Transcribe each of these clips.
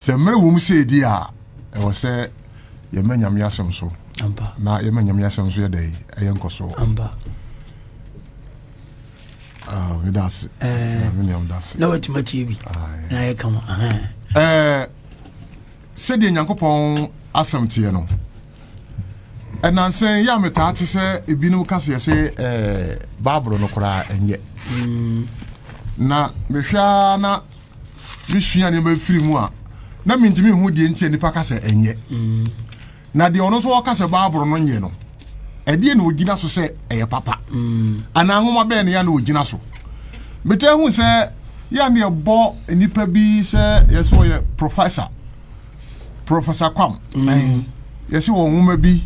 Sɛ mmerɛ wɔ mu sɛ ɛdi a, ɛwɔ sɛ yɛma Nyame asɛm so na yɛma Nyame asɛm so yɛ dɛ ɛyɛ nkɔsoɔ. Ah, meda ase. Eh. Ah, me nuam da ase. Na watumi atie bi. Ah, na ayɛ kama. Eh, sɛdeɛ Nyankopɔn asɛm teɛ no, ɛnansɛn yɛ a metaa te sɛ ebinom ka seɛ sɛ eh, Bible no koraa ɛnyɛ. Mm. Na mehwɛ na mesua nneɛma firi mu a na mentumi nhu deɛ nti a nnipa ka sɛ ɛnyɛ na deɛ ɔno nso ɔka sɛ baaboro no nyɛ no ɛdeɛ na ɔgyina so sɛ ɛyɛ papa anaa nwoma bɛɛ ne yɛ na ɔgyina so metaa hu sɛ yɛ ne ɛbɔ nnipa bi sɛ yɛ sɛ ɔyɛ professor professor kwam yɛ sɛ wɔ nwoma bi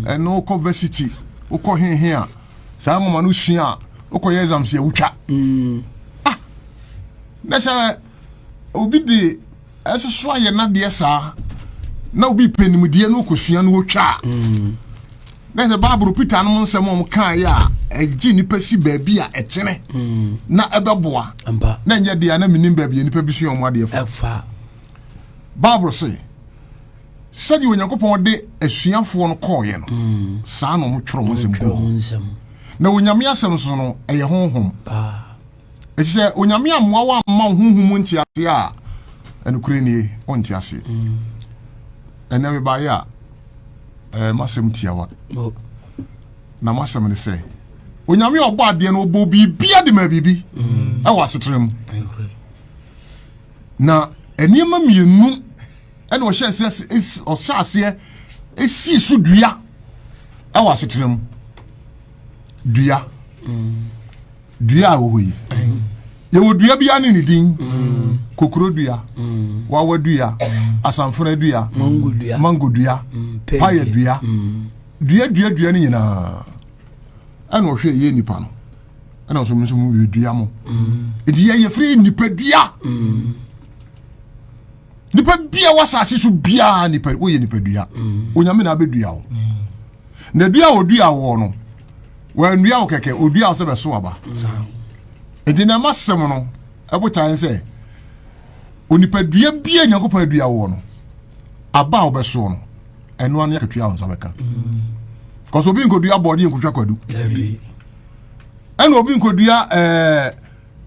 ɛno wokɔ varsity wokɔ hehe a saa nwoma no sua a wokɔyɛ exam sɛ wotwa mm. ah na sɛ obi de ɛsoso ayɛ nadeɛ saa na obi pɛ nimdeɛ no wokɔsua no wotwa a mm. na sɛ bible peter nom nsɛm a ɔmkaeɛ a ɛgye nnipa si baabi a ɛtene mm. na ɛbɛboa na ɛnyɛ deɛ na menim baabi a nnipa bi sua ɔmo adeɛ fa bible se sɛdeɛ onyankopɔn de asuafoɔ no kɔɔeɛ no saa na ɔmotwerɛ mo nsɛm guu ho na onyame asɛm nso no ɛyɛ honhom ɛti sɛ onyame ammoa wo amma wo honhom mu nteaseɛ a ɛnokorɛ nie ɔnte aseɛ ɛnɛ mebaeɛ a ɛɛ masɛm tiawa na masɛm ne sɛ onyame ɔbɔ adeɛ no ɔbɔ biribia de ma biribi ɛwɔ asetena mu na nneɛma mmienu ɛna ɔhyɛ aseɛ ɔhyɛ aseɛ esii so dua ɛwɔ asetena mu dua dua a wɔwɔ yi yɛwɔ dua bi ane ne din kokoro dua wawa dua asanfora dua mango dua paya dua dua dua dua no nyinaa ɛna ɔhwɛ yɛ nipa no ɛna ɔsɔ mo nso mo yɛ dua mo nti yɛ yɛ firi nipa dua. Mm. nipa bia wɔ asase so biara nipa woyɛ nipadua mm. onyame na abɛdua wo mm. na dua a ɔdua wɔ no wɔannua wo kɛkɛ ɔdua wo sɛ bɛso aba nti na ɛma sɛm no ɛbotae sɛ onipadua bia nyankopɔn adua wɔ no aba a wobɛsoɔ no ɛno ano akatua wo nsa bɛka mm. because obi nkɔdua bɔɔde nkɔtwa kwadu ɛna obi nkɔdua ɛɛ eh,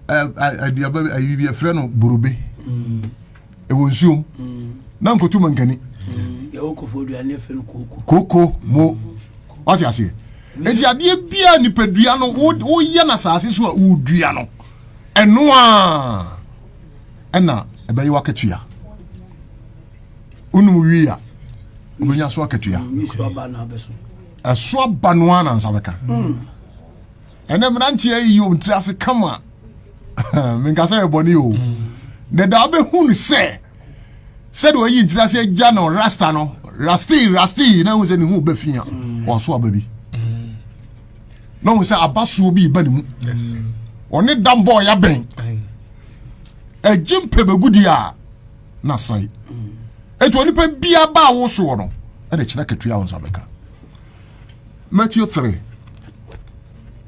aduaba bi ayi bi yɛfrɛ no borobe mm. ɛwɔ nsuom mm. na nkotu mankani mm. koko mo wate aseɛ nti adeɛ biaa nipadua no woyɛ no asase so a wodua no ɛno a ɛna ɛbɛyɛ wakatua wonom wie a wobɛnya so akatua ɛso aba no a nansa bɛka ɛnɛ mmeranteɛ yi yɛ ɔntiri ase kama menka sɛ yɛ bɔne o na da wobɛhu no sɛ sɛdeɛ ɔyi ntiri ase agya no rasta no rasti rasti na hu sɛ ne ho bɛfi a ɔso aba bi na hu sɛ abasoɔ bi ba ne mu ɔne da mbɔɔ yɛabɛn agye mpɛ bɛgudi a na sae ɛti onipa biaba a wosoɔ no ɛna kyerɛ katua wo nsa bɛka Matthew three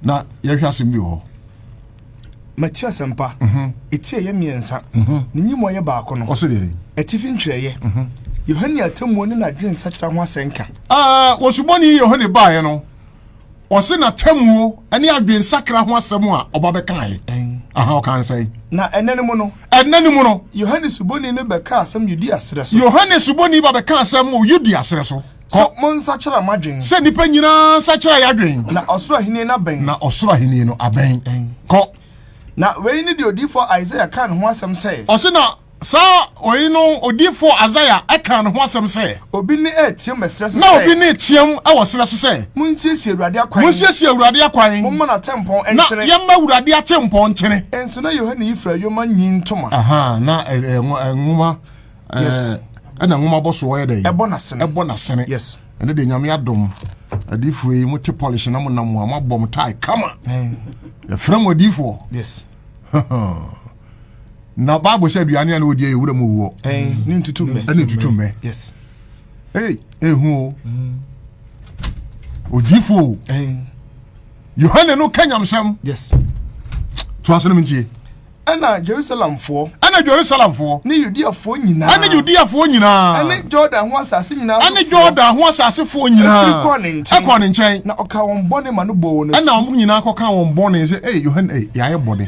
na yɛhwɛ asɛm bi wɔ hɔ. Matthew asɛmpa mhm. eti ɛyɛ mmiɛnsa mhm. ne nyimu ɔyɛ baako no ɔsɛ deɛ atifi ntwerɛeɛ mhm. Yohane atemmuo ne n'adwene nsakyera ho asɛnka. Ah, wɔsubɔni Yohane baeɛ no ɔse n'atemmuo ne adwene nsakra ho asɛm a ɔba bɛkaeɛ aha ɔka nsɛn na ɛnɛ no mu no ɛnɛ no mu no Yohane subɔni no bɛka asɛm Yudea serɛ so Yohane subɔni ba bɛka asɛm wɔ Yudea serɛ so Kɔ. Sɛ monsakyera mo adwen. Sɛ nnipa nyinaa nsakyera yɛadwen. Na ɔsoro ahenni no abɛn. Na ɔsoro ahenni no abɛn. Kɔ. Na wei ne deɛ odiyifoɔ Isaiah kaa ne ho asɛm sɛ. Ɔse na saa wei no odiyifoɔ Isaiah ɛkaa ne ho asɛm sɛ. Obi ne ɛreteam wɔ serɛ so sɛ. Na obi ne team wɔ serɛ so sɛ. Monsiesie Awurade akwan. Monsiesie Awurade akwan. Momma n'atempɔn nkyene. Na yɛmma Awurade atempɔn nkyene. Nso na Yohane yi fira yoma nyin ntoma. Aha, na nwoma. ɛɛ ɛna nwoma bɔ so ɔyɛ dɛ ɛbɔ n'asene ɛbɔ n'asene yes ɛne de nyame adom adiifoɔ yi mo te polish na mo nam a mo abɔ mo tae kama yɛfrɛ mo adiifoɔ yes na bible sɛ aduane a na wɔdi yɛ wura mu wuɔ ɛne ntutu mmɛ ɛne ntutu mmɛ yes ei ehu o mm. odiifoɔ o yohane no ka nyamsɛm yes to asɛm ntie Ɛna Jerusalemfoɔ. Ɛna Jerusalemfoɔ. Ne Yudeafoɔ nyinaa. Ɛne Yudeafoɔ nyinaa. Ɛne Jordan ho asase nyinaa sofoɔ. Ɛne Jordan ho asasefoɔ nyinaa. Ɛfiri kɔɔ ne nkyɛn. Ɛkɔɔ ne nkyɛn. Na ɔka wɔn bɔne ma no bɔɔ wɔn asu. Ɛna wɔn nyinaa kɔka wɔn bɔne sɛ ee Yohane ee yɛayɛ bɔne.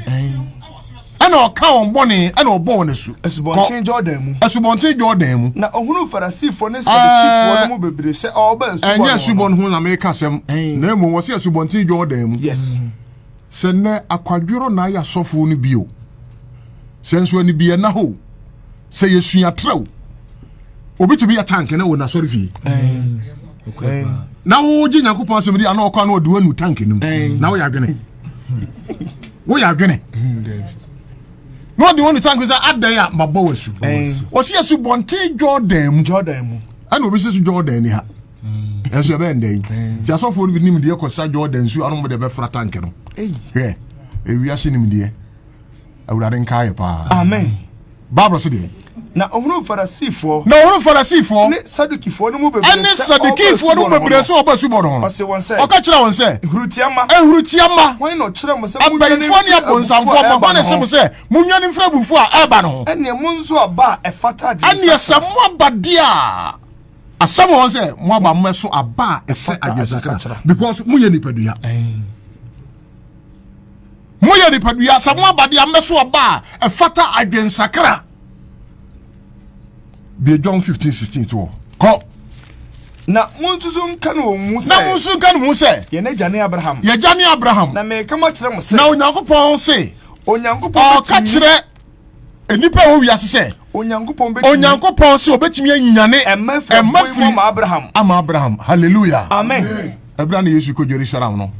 Ɛna ɔka wɔn bɔne ɛna ɔbɔ wɔn asu. Asubɔnten Jordan mu. Asubɔnten Jordan mu. Na ɔhunu Farisifoɔ ne Sadukifoɔ no mu bebree sɛ ɔreba asubɔ no ho. Ɛnyɛ asubɔ no ho na meka asɛm. Na mmom wɔsi asubɔnten Jordan mu. Yes. Sɛ nnɛ akwadworɔ na ayɛ asɔfoɔ no bi o, sɛ nso anibiɛ na hɔ o, sɛ yɛsua trɛ o, obi tumi yɛ tank na wɔ n'asɔre fie na wogye nyankopɔn asɛm di ana ɔkɔ ana ɔde wanu tank no mu na woyɛ adwene woyɛ adwene na ɔde wanu tank sɛ adɛn a mabɔ wasu ɔsi asu bɔnten jordan mu jordan mu ɛna obi sɛ so jordan ni ha ɛnso ɛbɛyɛ ndɛn nti asɔfoɔ no bi nim deɛ kɔsa jordan nsuo ano mode bɛfra tank no hwɛ ewiase nim deɛ awurade nka yɛ paa amen bible se deɛ na ɔhunu farasifoɔ na ɔhunu farasifoɔ ne sadukifoɔ no mu bebree ɛne sadukifoɔ no mu bebree sɛ ɔba subɔ no ho ɔse wɔn sɛ ɔka kyerɛ wɔn sɛ ehurutiama ehurutiama wɔn na ɔkyerɛ mo sɛ abɛnfoɔ ne abonsamfoɔ ma wɔn na ɛsɛ mo sɛ mo nwa ne mfra bufuo a ɛba no ho ɛneɛ mo nso aba a ɛfata adeɛ ɛneɛ sɛ mo aba deɛ a asɛm wɔn sɛ mo aba mo ɛso aba a ɛsɛ adwensakra because mo yɛ nipadua mo yɛ nipadua sɛ mo aba de amɛ so aba a ɛfata adwensakra bie john fifteen sixteen to kɔ. na mo nso so nka ne wɔn mu sɛ na mo nso nka ne mu sɛ yɛn agya ne abraham yɛn agya ne abraham na mɛka mo akyerɛ mo sɛ na onyankopɔn se onyankopɔn ɔka kyerɛ nnipa a ɛwɔ wiase sɛ onyankopɔn sɛ obɛtumi anyane ɛma firi ama abraham halleluya amen ɛberɛ na yesu kɔ jerusalem no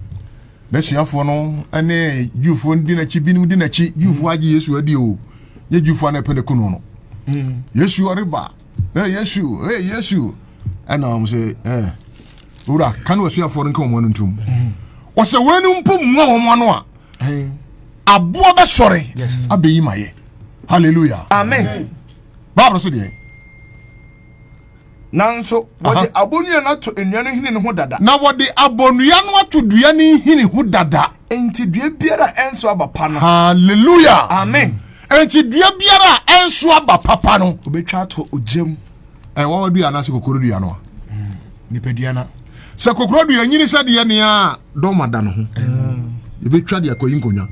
n'asuafoɔ no ne jewfoɔ no di n'akyi binom di n'akyi jewfoɔ agye yesu adi o yɛ jewfoɔ no ɛpɛ ne kunu no hmm. yesu ɔreba ɛ yesu ɛ yesu ɛna wɔn sɛ ɛ wura ka ne wasuafoɔ no nka wɔn ano ntom wɔsɛ hmm. wɔn mpo mua wɔn ano a aboɔ bɛsɔre abɛyi ma yɛ hallelujah amen bible so deɛ nanso wɔde abonnua no ato nnua no nhini no ho dada na wɔde abonnua no ato dua no nhini ho dada enti dua biara a ɛnso aba pa no hallelujah amen enti dua biara a ɛnso aba papa no wɔbɛtwa ato ogyam ɛwɔ dua anaasɛ kokoro dua no a nipadua no sɛ kokoro dua nyini sɛ deɛ nea dɔma da no ho yɛbɛtwa de akɔyi nkonnwa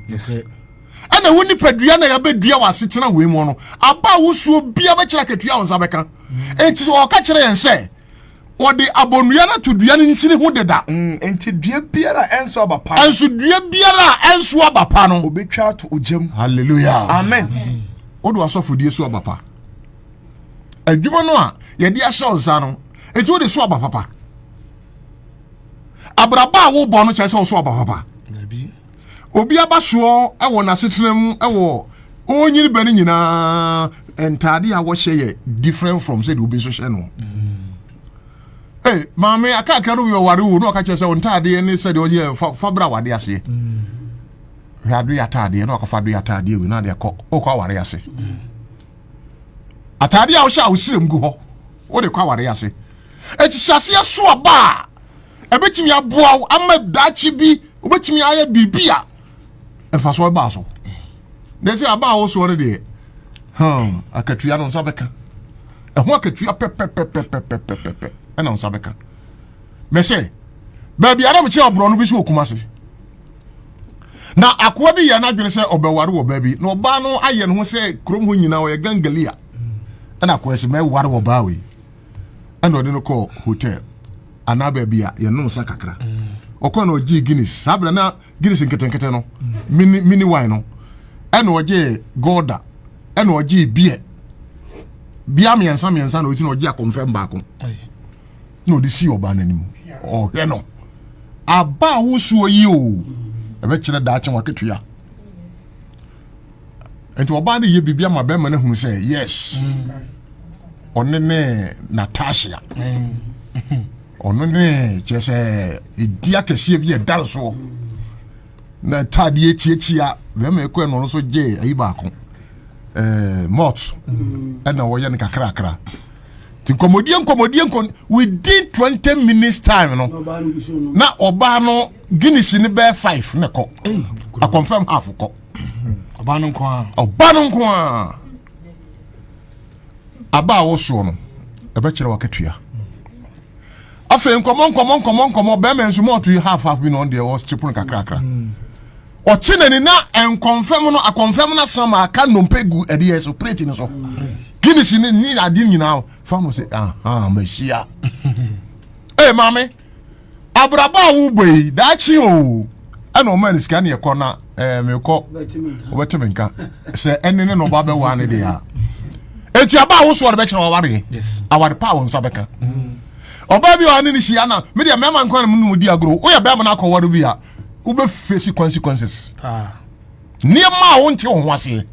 ɛna wo nipadua na yɛbɛdua wɔ asetena wei mu no aba a wosuo bia bɛkyerɛ akatua wo nsa bɛka ɛnti sɛ ɔka kyerɛ yɛn sɛ ɔde abonnua no to dua no ntini ho deda mm, nti dua biara a ɛnso aba pa ɛnso dua biara a ɛnso aba pa no obɛtwa ato ogyam halleluya amen wode asɔfodie so aba pa adwuma no a yɛde ahyɛ wo nsa no enti wode so aba papa abrabɔ a wobɔ no kyerɛ sɛ wo so aba papa obi aba soɔ wɔ n'asetena mu wɔ ɔnyini bɛ no nyinaa ntaade a wɔhyɛ yɛ different from sɛdeɛ obi nso hyɛ no Hey, maame akakra no bi ɔware wo na ɔka kyerɛ sɛ ntaadeɛ ne sɛdeɛ ɔyɛ fa fa bra wade aseɛ hwɛ ado yɛ ataadeɛ na ɔkɔfa do yɛ ataadeɛ wei na adeɛ kɔ ɔkɔ aware ase. Mm. atade a wohyɛ a wosirem gu hɔ wode kɔ aware ase akyihyɛaseɛ so aba a ɛbɛtumi aboa wo ama daakye bi wobɛtumi ayɛ biribi a mfasoɔ baa so na sɛ aba a wosoɔ no deɛ hmm, akatua no nsa bɛka ɛho akatua pɛpɛpɛpɛpɛpɛpɛ ɛna nsa bɛka mɛsɛ baabi a na mekyerɛ ɔborɔ no bi so wɔ kuma se na akoa bi yɛ n'adwene sɛ ɔbɛware wɔ baa bi na ɔbaa no ayɛ ne ho sɛ kurom hɔ nyinaa ɔyɛ gangalia ɛna akoa sɛ mɛware wɔ baa wei ɛna ɔde no kɔɔ hotel anaa baabi a yɛnom nsa kakra ɔkɔ na ɔgyee guinness saa berɛ na guinness nketenkete no mini mini wine no ɛna ɔgyee golda ɛna ɔgyee beer bia mmiɛnsa mmiɛnsa na ɔgyi na ɔgye akɔmfɛm baako na ɔde si ɔbaa n'anim ɔhwɛ no aba a wosuo yi o ɛbɛkyerɛ daakye waketua nti ɔbaa no yɛ biribi ama bɛrima no ahunu sɛ yes ɔne ne natasha ɔno ne kyerɛ sɛ ɛdi akɛseɛ bi ɛda soɔ na taadeɛ tiatia bɛrima ɛkɔ ɛno no so gyee ayi baako eh, mot ɛna wɔyɛ no kakrakra nti nkɔmmɔdie nkɔmmɔdie nkɔ within twenty minutes time no na ɔbaa no guinness ne bɛɛ five ne kɔ akɔnfɛm half kɔ ɔbaa no nko a ɔbaa no nko a aba a wosoɔ no ɛbɛkyerɛ wakatua afei nkɔmmɔ nkɔmmɔ nkɔmmɔ nkɔmmɔ bɛrima nso mɔɔto yi half half bi na ɔn deɛ ɔstre pono kakrakra ɔkye n'ani na nkɔnfɛm no akɔnfɛm no asan ma aka nnompe gu ɛdeɛ so plate no so guinness ne ne ade nyinaa fa no sɛ aha mahyia ee maame abrabɔ a wobɔ yi daakye o ɛna ɔma ne sika ne ɛkɔ na ɛɛ mekɔ ɔbɛte me nka sɛ ɛne ne na ɔba bɛwa ne deɛ a eti aba a wosoɔ de bɛkyerɛ ɔware aware pa a wɔn nsa bɛka ɔbaa bi a ɔne ne hyia na medeɛ mɛma nkwa na mu di agorɔ woyɛ bɛrima no akɔware bi a wobɛfesi consequences nneɛma a wonte wo ho aseɛ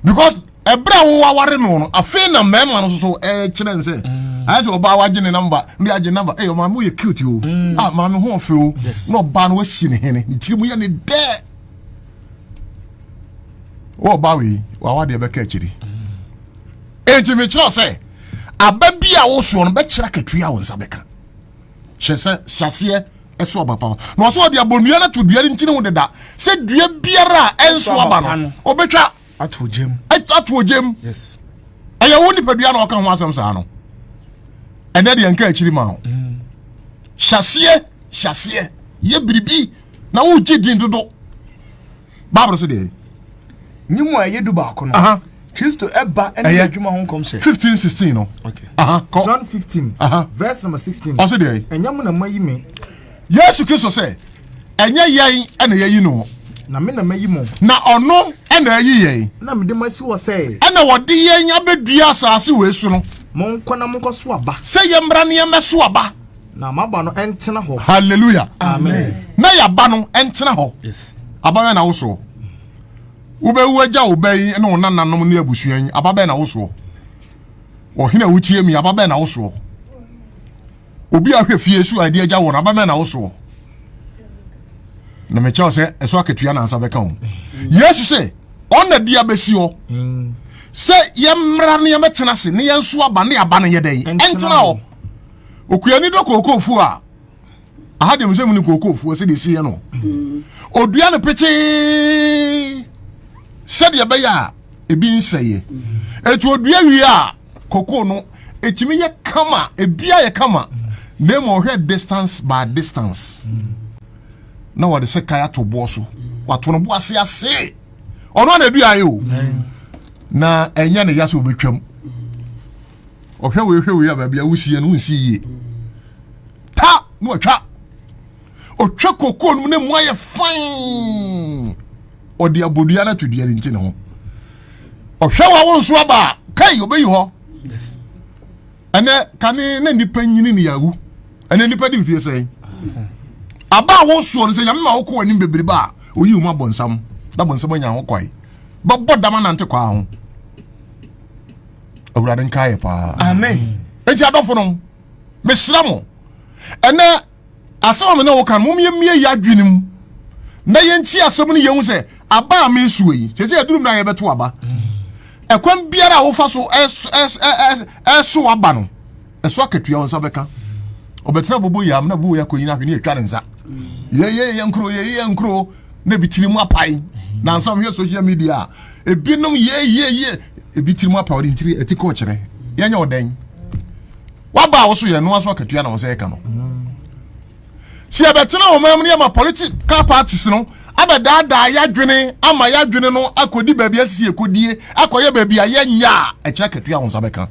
because ɛberɛ a wowaware no no afei na mmarima no soso ɛkyerɛ n sɛ mm. ayɛ sɛ ɔbaa wagye ne namba ne agye namba ɛyɛ ɔmaame woyɛ cute o mm. a ah, maame ho ɔfɛ o na ɔbaa no wasi ne hene ne tiri mu yɛ ne dɛ wɔ ɔbaa wei wawa deɛ bɛka akyiri enti mm. mekyerɛ sɛ aba bi a wosoɔ no bɛkyerɛ akatua a wo nsa bɛka hyɛ sɛ hyɛseɛ ɛso aba papa na ɔsɛ ɔde abɔnnua no ato dua no nkyene ho deda sɛ dua biara a ɛnso aba no ɔbɛtwa ato ogyam ato ogyam yes ɛyɛ wo nipadua na ɔka ho asɛm saa no ɛnɛ deɛ nka akyiri ma wo mm. hyɛseɛ hyɛseɛ yɛ biribi na wogye din dodo bible no so deɛ ne mu a ɛyɛ du baako no aha kristo ɛba ɛne Ɛyɛ. adwuma ho nkɔmhyɛ fifteen sixteen no Okay. aha kɔ john 15 Aha. verse number 16 ɔso deɛ ɛnyɛ mo na mayi me yesu kristo sɛ ɛnyɛ yɛn ɛna yɛyi no na me na mayi mo na ɔno ɛna ayi yɛn na mede mo asi hɔ sɛ ɛna wɔde yɛn abɛdua asase wei so no monkɔ na monkɔso aba sɛ yɛmmra ne yɛmmɛso aba na maba no ɛntena hɔ hallelujah amen na yaba no ɛntena hɔ yes ababɛn na wosoɔ wobɛwu agya wo ba yi ne wo nananom ne abusua yi ababɛn na wosoɔ ɔhene a wotie mi ababɛn na wosoɔ obi a hwɛ fie so a ɛde agya wɔn ababɛn na wosoɔ na mekyɛw sɛ ɛso akatua na ansa bɛka ho yesu sɛ ɔna di abɛsi hɔ mm. sɛ yɛmmra ne yɛmɛtena ase ne yɛnso aba ne aba no yɛ dɛn ɛntena hɔ okuani dɔ kookoofuo a aha deɛ mesɛ mu ne kookoofuo sɛ deɛ ɛsiiɛ no ɔdua no pekyee sɛdeɛ ɛbɛyɛ a ebi nsɛeɛ ɛti ɔdua wie a kokoo no ɛtumi yɛ kama ebia yɛ kama na ma ɔhwɛ distance by distance na wɔde sɛ kae ato boɔ so wato no bo ase ase ɔno ana aduaeɛ o na ɛnyɛ ne ya sɛ ɔbɛtwam ɔhwɛ wei hwɛ wei a baabi a wosie no wonsi yie ta na ɔtwa ɔtwa kokoo no mu na mu ayɛ fan ɔde abodua no ato dua no nti ne ho ɔhwɛ wɔ awo nso aba a kai ɔbɛyi hɔ ɛnɛ kane na nnipa nyini ne yɛawu ɛnɛ nnipa de mfie sɛn aba a wosoɔ no sɛ nyame ma wokɔ anim bebrebe a ɔyi wo mu abɔnsam na bɔnsam anya ho kwae bɛbɔ dama nante kwaa ho awurade nka yɛ paa amen enti adɔfo no mesrɛ mo ɛnɛ asɛm a me ne wo ka no mommie yɛ adwene mu na yɛnti asɛm no yɛhu sɛ aba a mesuo yi sɛ sɛ yɛduru mmerɛ a yɛbɛto aba ɛkwan biara a wofa so ɛso aba no ɛso akatua wo nsa bɛka ɔbɛtena bobo yam na bobo yɛ akɔyi no ahwe ne atwa ne nsa yɛyɛ yɛ nkuro yɛyɛ yɛ nkuro na ebi tiri mu apae nansa wohwɛ social media a ebinom yɛyɛyɛ ebi tiri mu apae ɔde ntiri ɛti kɔ ɔkyerɛ yɛnyɛ ɔdɛn waba a woso yɛ noa so akatua na wo nsa yɛka no si ɛbɛtena wɔn amu ne ama political parties no abɛdaadaa yɛadwene ama yɛadwene no akɔdi baabi asisi ɛkɔdie akɔyɛ baabi a yɛnyɛ a ɛkyerɛ akatua wo nsa bɛka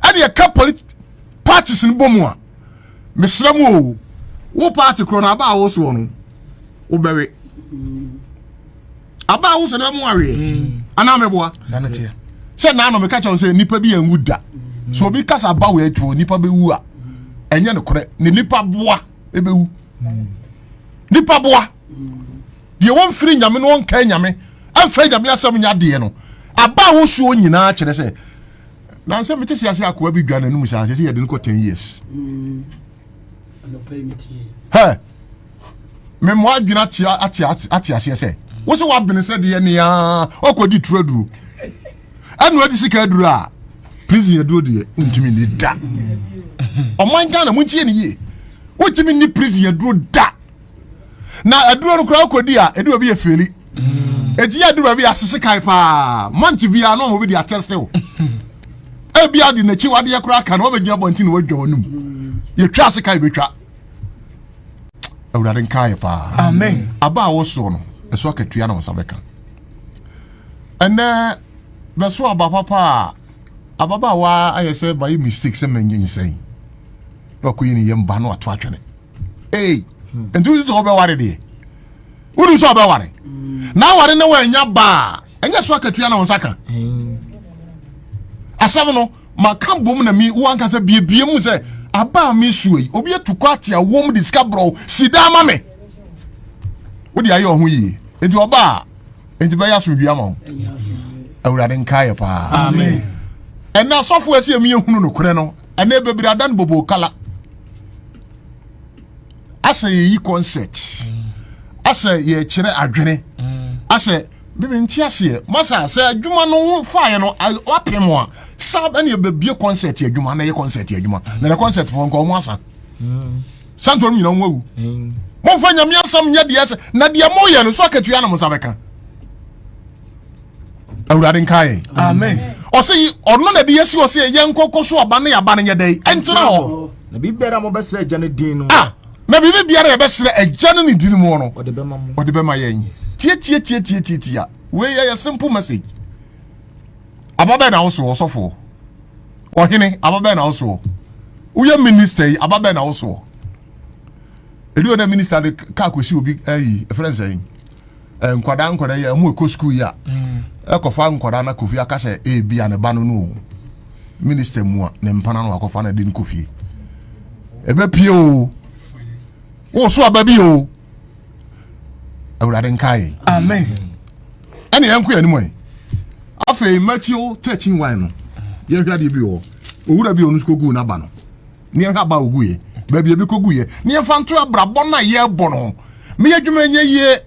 ɛne ɛka polit parties no bɔ mu a mesrɛ mu o wo party korɔ no aba a wosoɔ no wobɛwe aba a wosoɔ no bɛmo aweɛ mm. anaa mɛboa sɛ naano meka kyɛw sɛ nnipa bi anwu da so obi kasa aba wɔ atuo nnipa bɛwu a ɛnyɛ nokorɛ ne nipa boa ɛbɛwu nipa boa deɛ wɔmfiri nyame no ɔnka nyame ɛmfɛ nyame asɛm nya deɛ no aba a wosuo nyinaa kyerɛ sɛ nansɛ mete se ase akoa bi dwa n'anom saa sɛ sɛ yɛde no kɔ 10 years hɛ memmoa adwene ate aseɛ sɛ wo sɛ woabene sɛ deɛ nea ɔkɔdi turaduro ɛna ɔde sika aduru a prison aduro deɛ wontumi ni da ɔman ghana montie ne yie wontumi ni prison aduro da na aduro no koraa wokɔdi a ɛde obi yɛ feli ɛti yɛ aduru bi asese kae paa mante biara na ɔmɔbi de atɛste wo ebi ade n'akyi wadeɛ koraa ka na ɔbɛgyina abɔnten na wadwa ɔnum yɛtwa ase kae bɛtwa awurade nkaeɛ paa aba a wɔsoɔ no ɛso akatua na wɔsa bɛka Ɛnnɛ, bɛso aba papa a, ababaawa ayɛ sɛ mayɛ mistake sɛ manyinsɛn na wakɔyi ne yam ba no ato atwene. Ei, nti wosi sɛ wobɛware deɛ? Wonim sɛ wobɛware. Na aware na wanya ba a, ɛnyɛ so akatua na wo nsa ka. Asɛm no, maka bom na mi woanka sɛ biebie mu sɛ aba a mesua yi, obi atu kɔ ate awom de sika borɔw si daa ma me. Wode ayɛ ɔho yie. Nti ɔba a nti bɛyɛ asomdwe ama wo awurade nkaeɛ paa ɛnɛ asɔfo ɛsɛ ɛmi yɛhunu nokorɛ no ɛnɛ bebree ada no bobo kala asɛ yɛyi concert asɛ yɛkyerɛ adwene asɛ bíbi nti aseɛ masa sɛ adwuma no ho faeɛ no wapem a saa ɛne ɛbɛbie concert adwuma na ɛyɛ concert adwuma na ɛyɛ concert fo nka ɔmo asa mm. santo no nyina nwawu momfa nyame asɛm nyɛ deɛ sɛ na deɛ moyɛ no so akatua na mo nsa bɛka awurade nka yɛn amen ɔsɛ yi ɔno na de yɛsi hɔ sɛ yɛn nkɔkɔ so aba ne aba no nyɛ dɛn ɛntena hɔ na biribiara a mobɛsrɛ agya no din no ah na biribi biara a yɛbɛsrɛ agya no ne din mu no ɔde bɛma mo ɔde bɛma yɛn tietietietietietia wei yɛ yɛ simple message ababɛn na wo so ɔsɔfoɔ Ɔhene, aba bɛn na wo soɔ? Woyɛ minister yi, aba bɛn na wo soɔ? Ɛdi wɔ dɛ minister de kaa kɔsi obi ayi, eh, ɛfrɛ nsɛn, eh, nkwadaa nkwadaa yi a ɛmu ɛkɔ sukuu yi a, ɛkɔfa mm. nkwadaa na kofi aka sɛ ebi eh, a ne ba no no minister mu a ne mpana no wakɔfa na de no kɔfie. Ɛbɛpie o. Wo so aba bi o. awurade nka yɛ amen ɛne yɛnko yɛ anim ɛ afei matthew 13 y no yɛhwɛ adeɛ bi wɔ owura bi ɔno nso kɔguu n'aba no ne yɛhwɛ aba ɔguiɛ baabi ebi kɔguiɛ ne yɛmfa nto abrabɔ no a yɛrebɔ no ho meyɛ adwuma nyɛ yie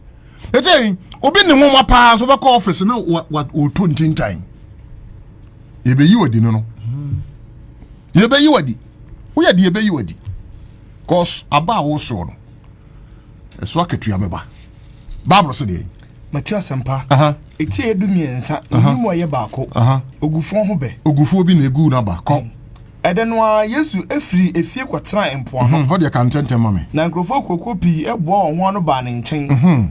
ɛsɛ obi ne nwoma paa so bɛkɔ office na wɔtɔ ntintan yɛbɛyi wadi no no yɛbɛyi wadi woyɛ de yɛbɛyi wadi cause aba a wosoɔ no ɛso akatua bɛba bible sɛ deɛ mate asɛmpa ɛtie du mmiɛnsa ɛnim a ɛyɛ baako ogufoɔ ho bɛ ogufoɔ bi na ɛgu no aba kɔ ɛdɛ no a yesu efiri efie kɔtena mpoano hɔ deɛ ka ntɛntɛm ma me na nkurɔfoɔ kuokuo pii ɛboa wɔn ho ano baa ne nkyɛn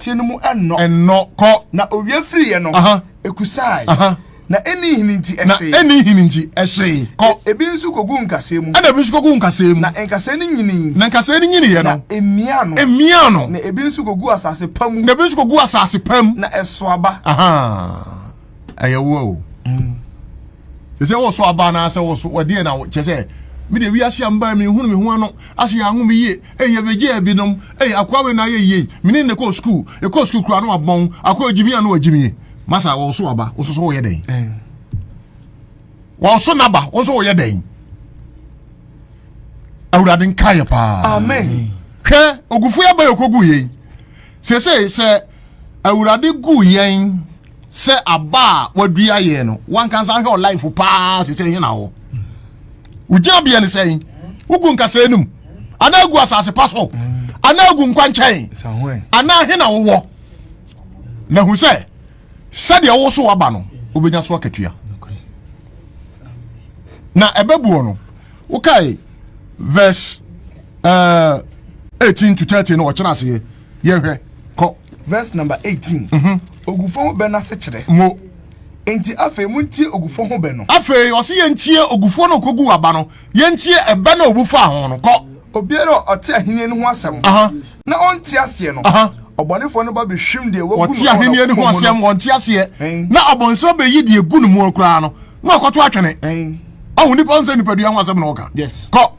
teɛ no mu ɛnnɔ. Ɛnnɔ, kɔ. Na owia firiiɛ no, ɛkusaae. Na ɛnni nhini nti, ɛhyee. Na ɛnni nhini nti, ɛhyee, kɔ. Ebi nso kɔguu nkasɛɛ mu. Ɛna ebi nso kɔguu nkasɛɛ mu. Na nkasɛɛ no nyinii. Na nkasɛɛ no nyiniiɛ no. Na ɛmiaa no. Ɛmiaa no. Na ebi nso kɔguu asase pa mu. Na ebi nso kɔguu asase pa mu. Na ɛsoo aba. Ahaa. ɛyɛ wo o mm. sɛ sɛ wɔso aba na sɛ wɔso wɔdeɛ na kyɛ sɛ mede wiase amba me hunu me ho ano ase yɛ anwo me yie ɛyɛ bɛgye abinom ɛyɛ akoa wei na ayɛ yie mene ne kɔɔ sukuu ɛkɔɔ sukuu koraa no abɔn akoa agyimi ano agyimie masa wɔso aba wo soso woyɛ dɛn wɔso naba wo nso woyɛ dɛn awurade nkaeɛ paa hwɛ ogufoɔ aba yɛ kɔgu yei Seesei sɛ Awurade guu yɛn sɛ aba a wadua yɛn no, wankansa hwɛ ɔlaefo paa seesei hena hɔ? Wogyina bea ne sɛn? Wogu nkasɛɛ no mu? Anaa agu asase pa so? Anaa agu nkwankyɛn? Anaa hena wowɔ? Na hu sɛ sɛdeɛ woso waba no wobɛnya so akatua na ɛbɛbuo no wokae verse uh, eh, 18 to 30 no ɔkyerɛ aseɛ yɛhwɛ kɔ verse number 18 mhm. ogufo ho bɛ no ase kyerɛ mo nti afei montie ogufo ho bɛ no afei ɔse yɛntie ogufo no ɔkɔgu aba no Yɛntie ɛbɛ na obu faa ho no, kɔ. Obiara a ɔte ahennie no ho asɛm na ɔnte aseɛ no, ɔbɔnefoɔ no ba bɛhwim deɛ wagu no wɔ n'akoma mu no. Ɔte ahennie no ho asɛm, ɔnte aseɛ, na ɔbɔnsɛm bɛyi deɛ egu no mu koraa no, na ɔkɔto atwene. Ɔho nipa ɔnsɛ nipadua ho asɛm na ɔka. Kɔ.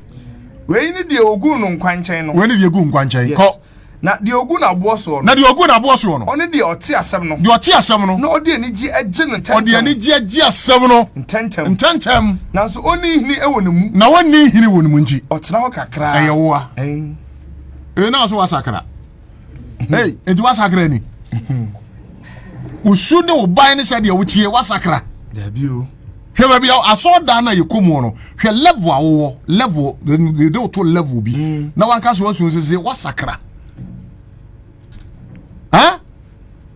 Wei ne deɛ ogu no nkwankyɛn no. Wei ne deɛ egu nkwankyɛn. Kɔ. Na deɛ ɔgu n'aboɔ soɔ no. Na deɛ ɔgu n'aboɔ soɔ no. Ɔne deɛ ɔte asɛm no. Deɛ ɔte asɛm no. Na ɔde anigyeɛ agye no ntɛntɛm. Ɔde anigyeɛ agye asɛm no. Ntɛntɛm. Ntɛntɛm. Nanso ɔnni nhini wɔ ne mu. Na ɔnni nhini wɔ ne mu nti. Ɔtena hɔ kakra. Ɛyɛ woa. Ɛyɛ naa so wasakra. Hey, nti wasakra ni. Wosu ne wo ban ne sɛdeɛ wotie wasakra. Daabi o. hwɛ baabi a asɔɔdan no a yɛkɔ mu no hwɛ level a wowɔ level yɛde woto level bi mm. na wanka sɛ wasu sese wasakra ha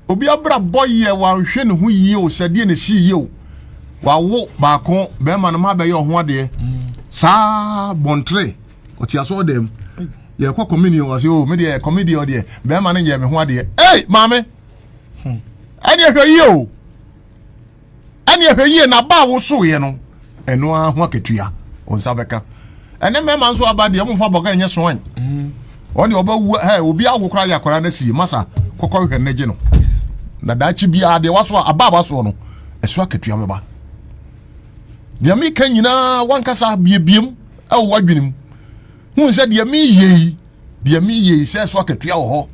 obi abra bɔ yɛ wanhwɛ ne ho yie o sɛdeɛ ne si yie o wawo baako bɛrima no ma bɛyɛ ɔho adeɛ mm. saa bɔntere ɔte asɔɔdan mu yɛkɔ communion wɔ se o oh, me deɛ comedy ɔdeɛ bɛrima no yɛ me ho adeɛ ei maame hmm. ɛdeɛ hwɛ yie o ɛne ɛhwɛ yie na ba a wosoeɛ no ɛno ara ho akatua wo nsa bɛka ɛne mmarima nso aba deɛ ɔmfa bɔga ɛnyɛ soan mm. ɔne ɔbɛwu ɛ obi awo koraa yɛ akwaraa no asie masa kɔkɔ hwɛ no gye no na daakye biara deɛ waso a aba a wasoɔ no ɛso akatua bɛba deɛ meka nyinaa wankasa biebiem ɛwɔ wadwenem hu sɛ deɛ meyɛ yi Deɛ meyɛ yi sɛ so akatua wɔ hɔ.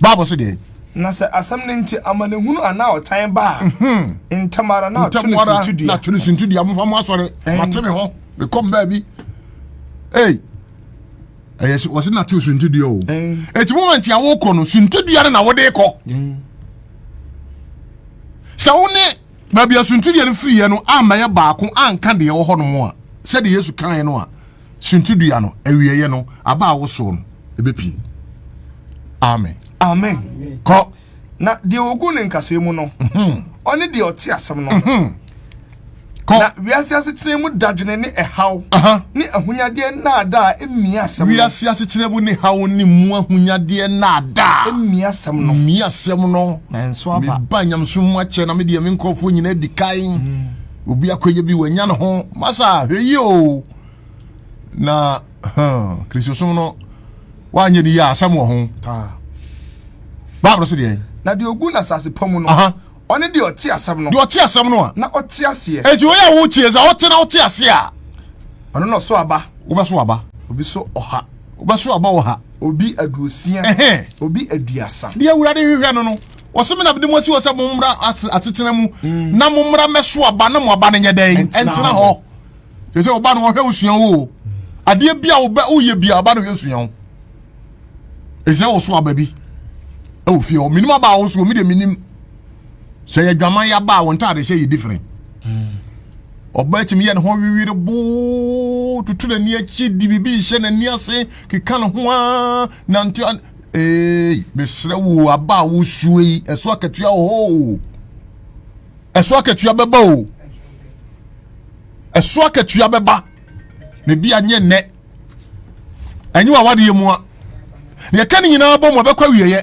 Bible se deɛ. Na sɛ asɛm no nti amanehunu anaa ɔtan ba a, mhm. ntɛm ara na to ne suntudua. Na to ne suntudua mofa mo asɔre mate me hɔ mekɔm baabi. Ei ɛyɛ sɛ wɔse na to suntudua o. Eti moment a wokɔ no suntudua no na wode kɔ. Sɛ wo ne baabi a suntudua no firi yɛ no ammɛyɛ baako anka deɛ wɔ hɔ nom a sɛdeɛ Yesu kaeɛ no a suntidua no awieeɛ no aba a wosow no ɛbɛpie amen amen kɔ na deɛ ɔgu ne nkasɛɛ mu no mhm. ɔne deɛ ɔte asɛm no mhm. na wiase asetena mu dadwene ne ɛhaw ne ahonyadeɛ nnaadaa mmia asɛm no wiase asetena mu ne haw ne mu ahonyadeɛ nnaadaa mmia asɛm no mmia asɛm no nanso aba meba nyamesom mu akyɛ na medeɛ me nkurɔfoɔ nyinaa di kan mm. obi akɔyɛ bi wanya ne ho masa hwɛ yie o na hmm, kristosom no wanyɛ ne yie a asɛm wɔ ho bible so deɛ na deɛ ɔgu no asase pa mu no ɔne deɛ ɔte asɛm no deɛ ɔte asɛm no a na ɔte aseɛ ɛnti wɔyɛ a wotie sɛ ɔte na ɔte aseɛ a ɔno na ɔso aba wobɛso aba obi so ɔha wobɛso aba ɔha obi aduosia obi aduasa deɛ awurade hwehwɛ no no wɔsɛ me na mede mo asi hɔ sɛ mommra asetena mu mm. na mommra mɛso aba na mo aba no nyɛ dɛn ɛntena hɔ sɛ sɛ ɔba no wɔhwɛ wo sua wo o adeɛ bi a woyɛ bia ɔba no hwɛ sua wo ɛsɛ wo so aba bi ɛwɔ fie hɔ menim aba a wo soɔ medeɛ menim sɛ yɛ adwaman yɛ aba a wɔn ntaade hyɛ yɛ different ɔba mm. atumi yɛ ne ho wewere boo tutu n'ani akyi di biribi hyɛ n'ani ase keka ne ho a nante Ee, mesrɛ wo aba a wosue yi, ɛso akatua wɔ hɔ o. Ɛso akatua bɛba o. Ɛso akatua bɛba. Na ebi anyɛ nnɛ. Ɛnyɛ w'awadeɛ mu a. Deɛ ɛka ne nyinaa bɔ mu a bɛkɔ awieɛ.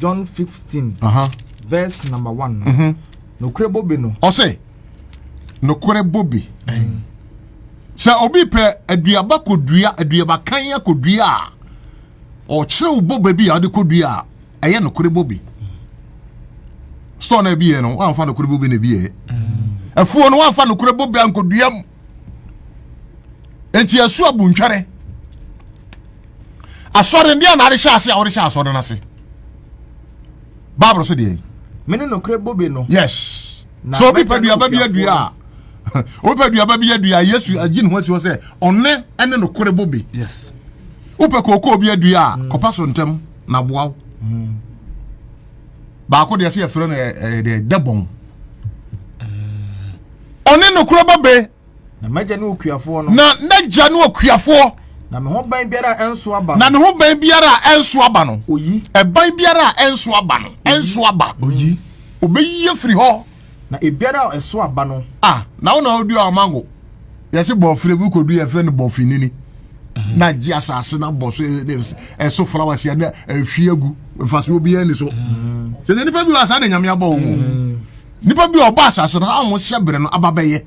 john 15 uh -huh. verse number 1 no mm -hmm. nokorɛ bobe no ɔsɛ nokorɛ bobe mm. sɛ obi pɛ aduaba kɔdua aduaba kan akɔdua a ɔkyerɛ wo bobe bi a ɔde kɔdua a ɛyɛ nokorɛ bobe mm. store no abiyɛ no woamfa nokorɛ bobe no abiyɛ mm. afuo no woamfa nokorɛ bobe ankɔdua mu nti ɛso abu ntwɛre asɔre ndeɛ na adehyɛ ase a wɔde hyɛ asɔre no ase bible so deɛ mene nokorɛ bobe no yes so obi pɛ duaba bi adua a obi pɛ duaba bi adua yesu agye ne ho asi hɔ sɛ ɔne ɛne nokorɛ bobe yes wopɛ kookoo bi adua a mm. kɔpa so ntɛm na boa wo mm. baako deɛ sɛ yɛfrɛ no eh, eh, deɛ dɛbɔn Ɔne nokorɛ ba be. Na m'agya ne okuafoɔ no. Na n'agya ne okuafoɔ. Na me ho ban biara a ɛnso aba no. Na ne ho ban biara a ɛnso aba no. Oyi. Ɛban biara a ɛnso aba no. Ɛnso aba. Oyi. Obeyi afiri hɔ. Na ebiara a ɛso aba no. A na wo na ɔdua ɔmango. Yɛsi bɔfire bi kɔdu yɛfrɛ no bɔfinini. Mhm. Na gye asase na bɔ so ɛso flowers yɛ na ehwie agu mfasoɔ biara ni so. Mhm. Sɛ nipa bi wɔ asa na nyame abɔ wɔn. Mhm. Nipa bi a ɔba asase no a wɔn hyɛ bere no aba bɛyɛ.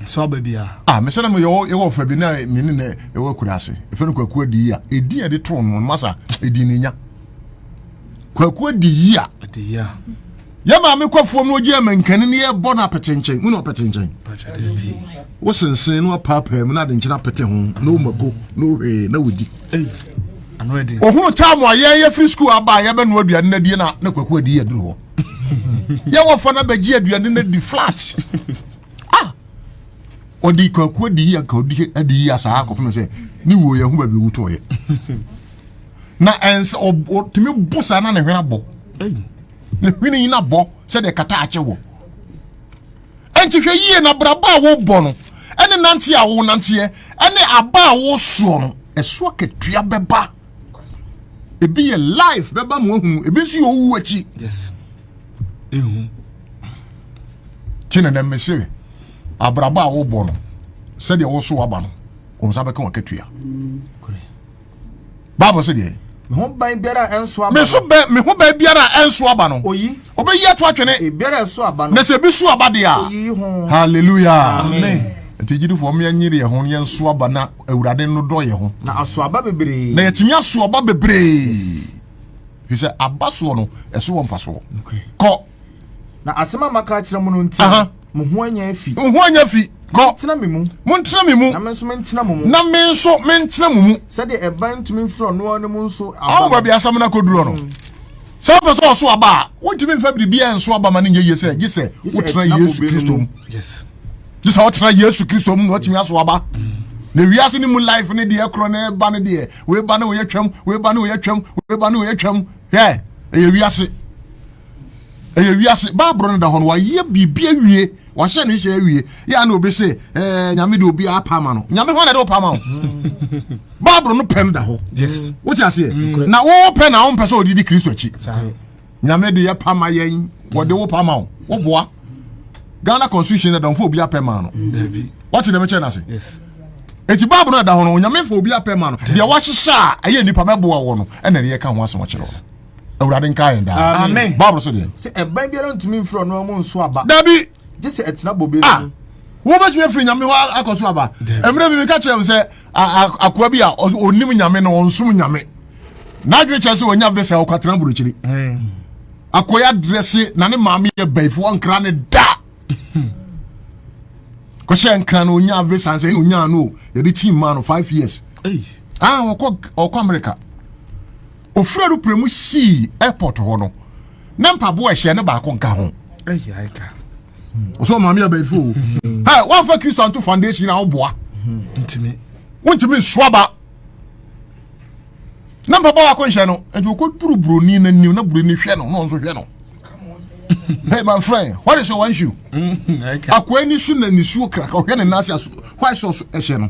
Nso aba bi a. A mesɛ na mo yɛwɔ yɛwɔ ɔfa bi na me ne na yɛwɔ akura ase. Efe no kwaku adi yi a edi a de too no masa edi ne nya. Kwaku adi yi a. Adi yi a. Yɛ maame kwafoɔ mu ogye ama nkani ne yɛ bɔ no apete nkyɛn. Mu na ɔpete nkyɛn. Wosensen no apaapaa mu na ade nkyɛn apete ho na omako na ohwee na wodi. Ohunu taa mo a yɛn yɛ firi sukuu aba a yɛbɛnoa aduane na die na na kwaku adi yɛ duro hɔ. yɛ wɔfa no bɛgye aduane no di flat ah ɔde kwaku adi yi anka ɔdi adi yi asaa akɔpem sɛ ne wuo yɛ ho baabi wutɔɔyɛ na ɛnsɛ ɔtumi bo saa na ne hwene abɔ ne hwene yi na bɔ sɛdeɛ kata akyɛ wɔ ɛnti hwɛ yie na braba a wobɔ no ɛne nanteɛ a wonanteɛ ɛne aba a wosoɔ no ɛsoɔ katua bɛba ebi yɛ life bɛba mu ahunu ebi nso yɛ owu akyi yes ehu kyina na mmese abrabɔ a wobɔ no sɛdeɛ woso waba no wɔn nsa bɛka wɔn akatua baabɔ sɛ deɛ me ho ban biara a ɛnso aba no meso bɛ me ho ban biara a ɛnso aba no oyi obɛyi ato atwene ebiara a ɛso aba no na sɛ ebi so aba deɛ a oyi ho hallelujah amen nti gyidifoɔ mmea nyere yɛn ho yɛn so aba na awurade no dɔ yɛ ho na aso aba bebree na yɛtumi aso aba bebree fi sɛ aba soɔ no ɛso wɔ mfasoɔ kɔ na asɛm a maka akyerɛ mu no nti mo ho anya afi mo ho anya afi kɔ tena me mu mo ntena me mu na me nso mentena mo mu na me nso mentena mo mu sɛdeɛ ɛban ntumi mfiri ɔno ara no mu nso aba awo baabi asɛm no akɔdurɔ no mm. sɛ wopɛ sɛ ɔso aba a wontumi mfa biribiaa nso aba ma no nyɛ yie sɛ gye sɛ wotena yesu kristo mu gye sɛ ɔtena yesu kristo mu na ɔtumi aso aba na wiase no mu life ne deɛ korɔ na ɛba no deɛ weba ne wɔyɛ twam weba ne wɔyɛ twam weba ne wɔyɛ twam hwɛ ɛyɛ wiase ɛyɛ wiase baaboro no da hɔ no wayɛ biribi awie wahyɛ ne hyɛ awie yɛ ana obi se ɛɛ eh, nyame de obi apa ama no nyame hɔ na ɛde ɔpa ama o baabolo no pɛ no da hɔ wote aseɛ mm. na wɔpɛ na wɔmpɛ sɛ ɔde di kristo akyi nyame de yɛ pa ma yɛn wɔde wo pa ma wo woboa ghana constitution ɛda ɔmfa obi apɛ ma no wɔte dɛm kyɛ no ase ɛti bible no ɛda ho no onyame mfa obi apɛ ma no deɛ wahyehyɛ a ɛyɛ nnipa bɛboa wɔ no ɛna ne yɛka ho asɛm akyerɛ no awurade nka yɛn daa bible so deɛ sɛ ɛban biara ntumi mfiri ɔno amu nso aba dabi gye sɛ ɛtena bobe no ah, wobɛtumi afiri nyame hɔ akɔ so aba ɛmerɛ bi meka kyerɛ m sɛ akoa bi a ɔnim nyame na ɔnsom nyame n'adwene kyerɛ sɛ ɔnya bɛsɛ ɔkwatena burokyiri akɔyɛ adrɛse na ne maame yɛ bɛyifoɔ nkra ne da kɔhyɛ nkra no ɔnya visa sɛ ɛna ɔnya no yɛde kyi mmaa no five years ah ɔkɔ ɔkɔ amerika ofura no pere mu sii airport hɔ no na mpaboa ɛhyɛ ne baako nka ho ɔsɛ ɔmaame abayifo o mm. ɛ wafa kristo anto foundation na ɔboa mm-hmm. ntumi wontumi nsoa ba na mpapa wako nhyɛ no nti okɔduru buroni no anim na buroni hwɛ no na ɔnso hwɛ no hey my friend what is your issue mm-hmm. akoa ni so na nisuo krakra ɔhwɛ ne nan ase aso white sauce ɛhyɛ no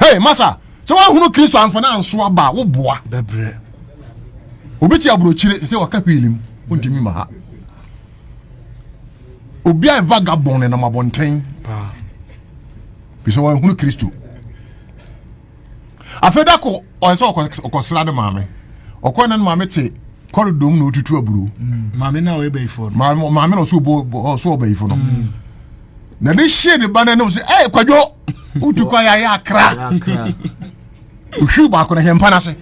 Hey, masa, sɛ woahunu Kristo amfa no anso aba a, woboa. Bɛbrɛ. Obi te aburokyire te sɛ waka hwiili mu, wontumi ma ha. Obi a vagabond nenam abɔnten. Bi sɛ wɔahunu Kristo. Afei da ko, ɔyɛ sɛ ɔkɔsra ne maame. Ɔkɔ ne maame te kɔridɔ mu na otutu aburo. Mm. Maame na ɔyɛ bɛyifoɔ no. Maame na ɔso ɔbɛyifoɔ no. Mm. na de hyee ne ba no anom sɛ ɛyɛ kwadwo wotu kɔ ayɛ akra ohwiw baako no hɛmpa no ase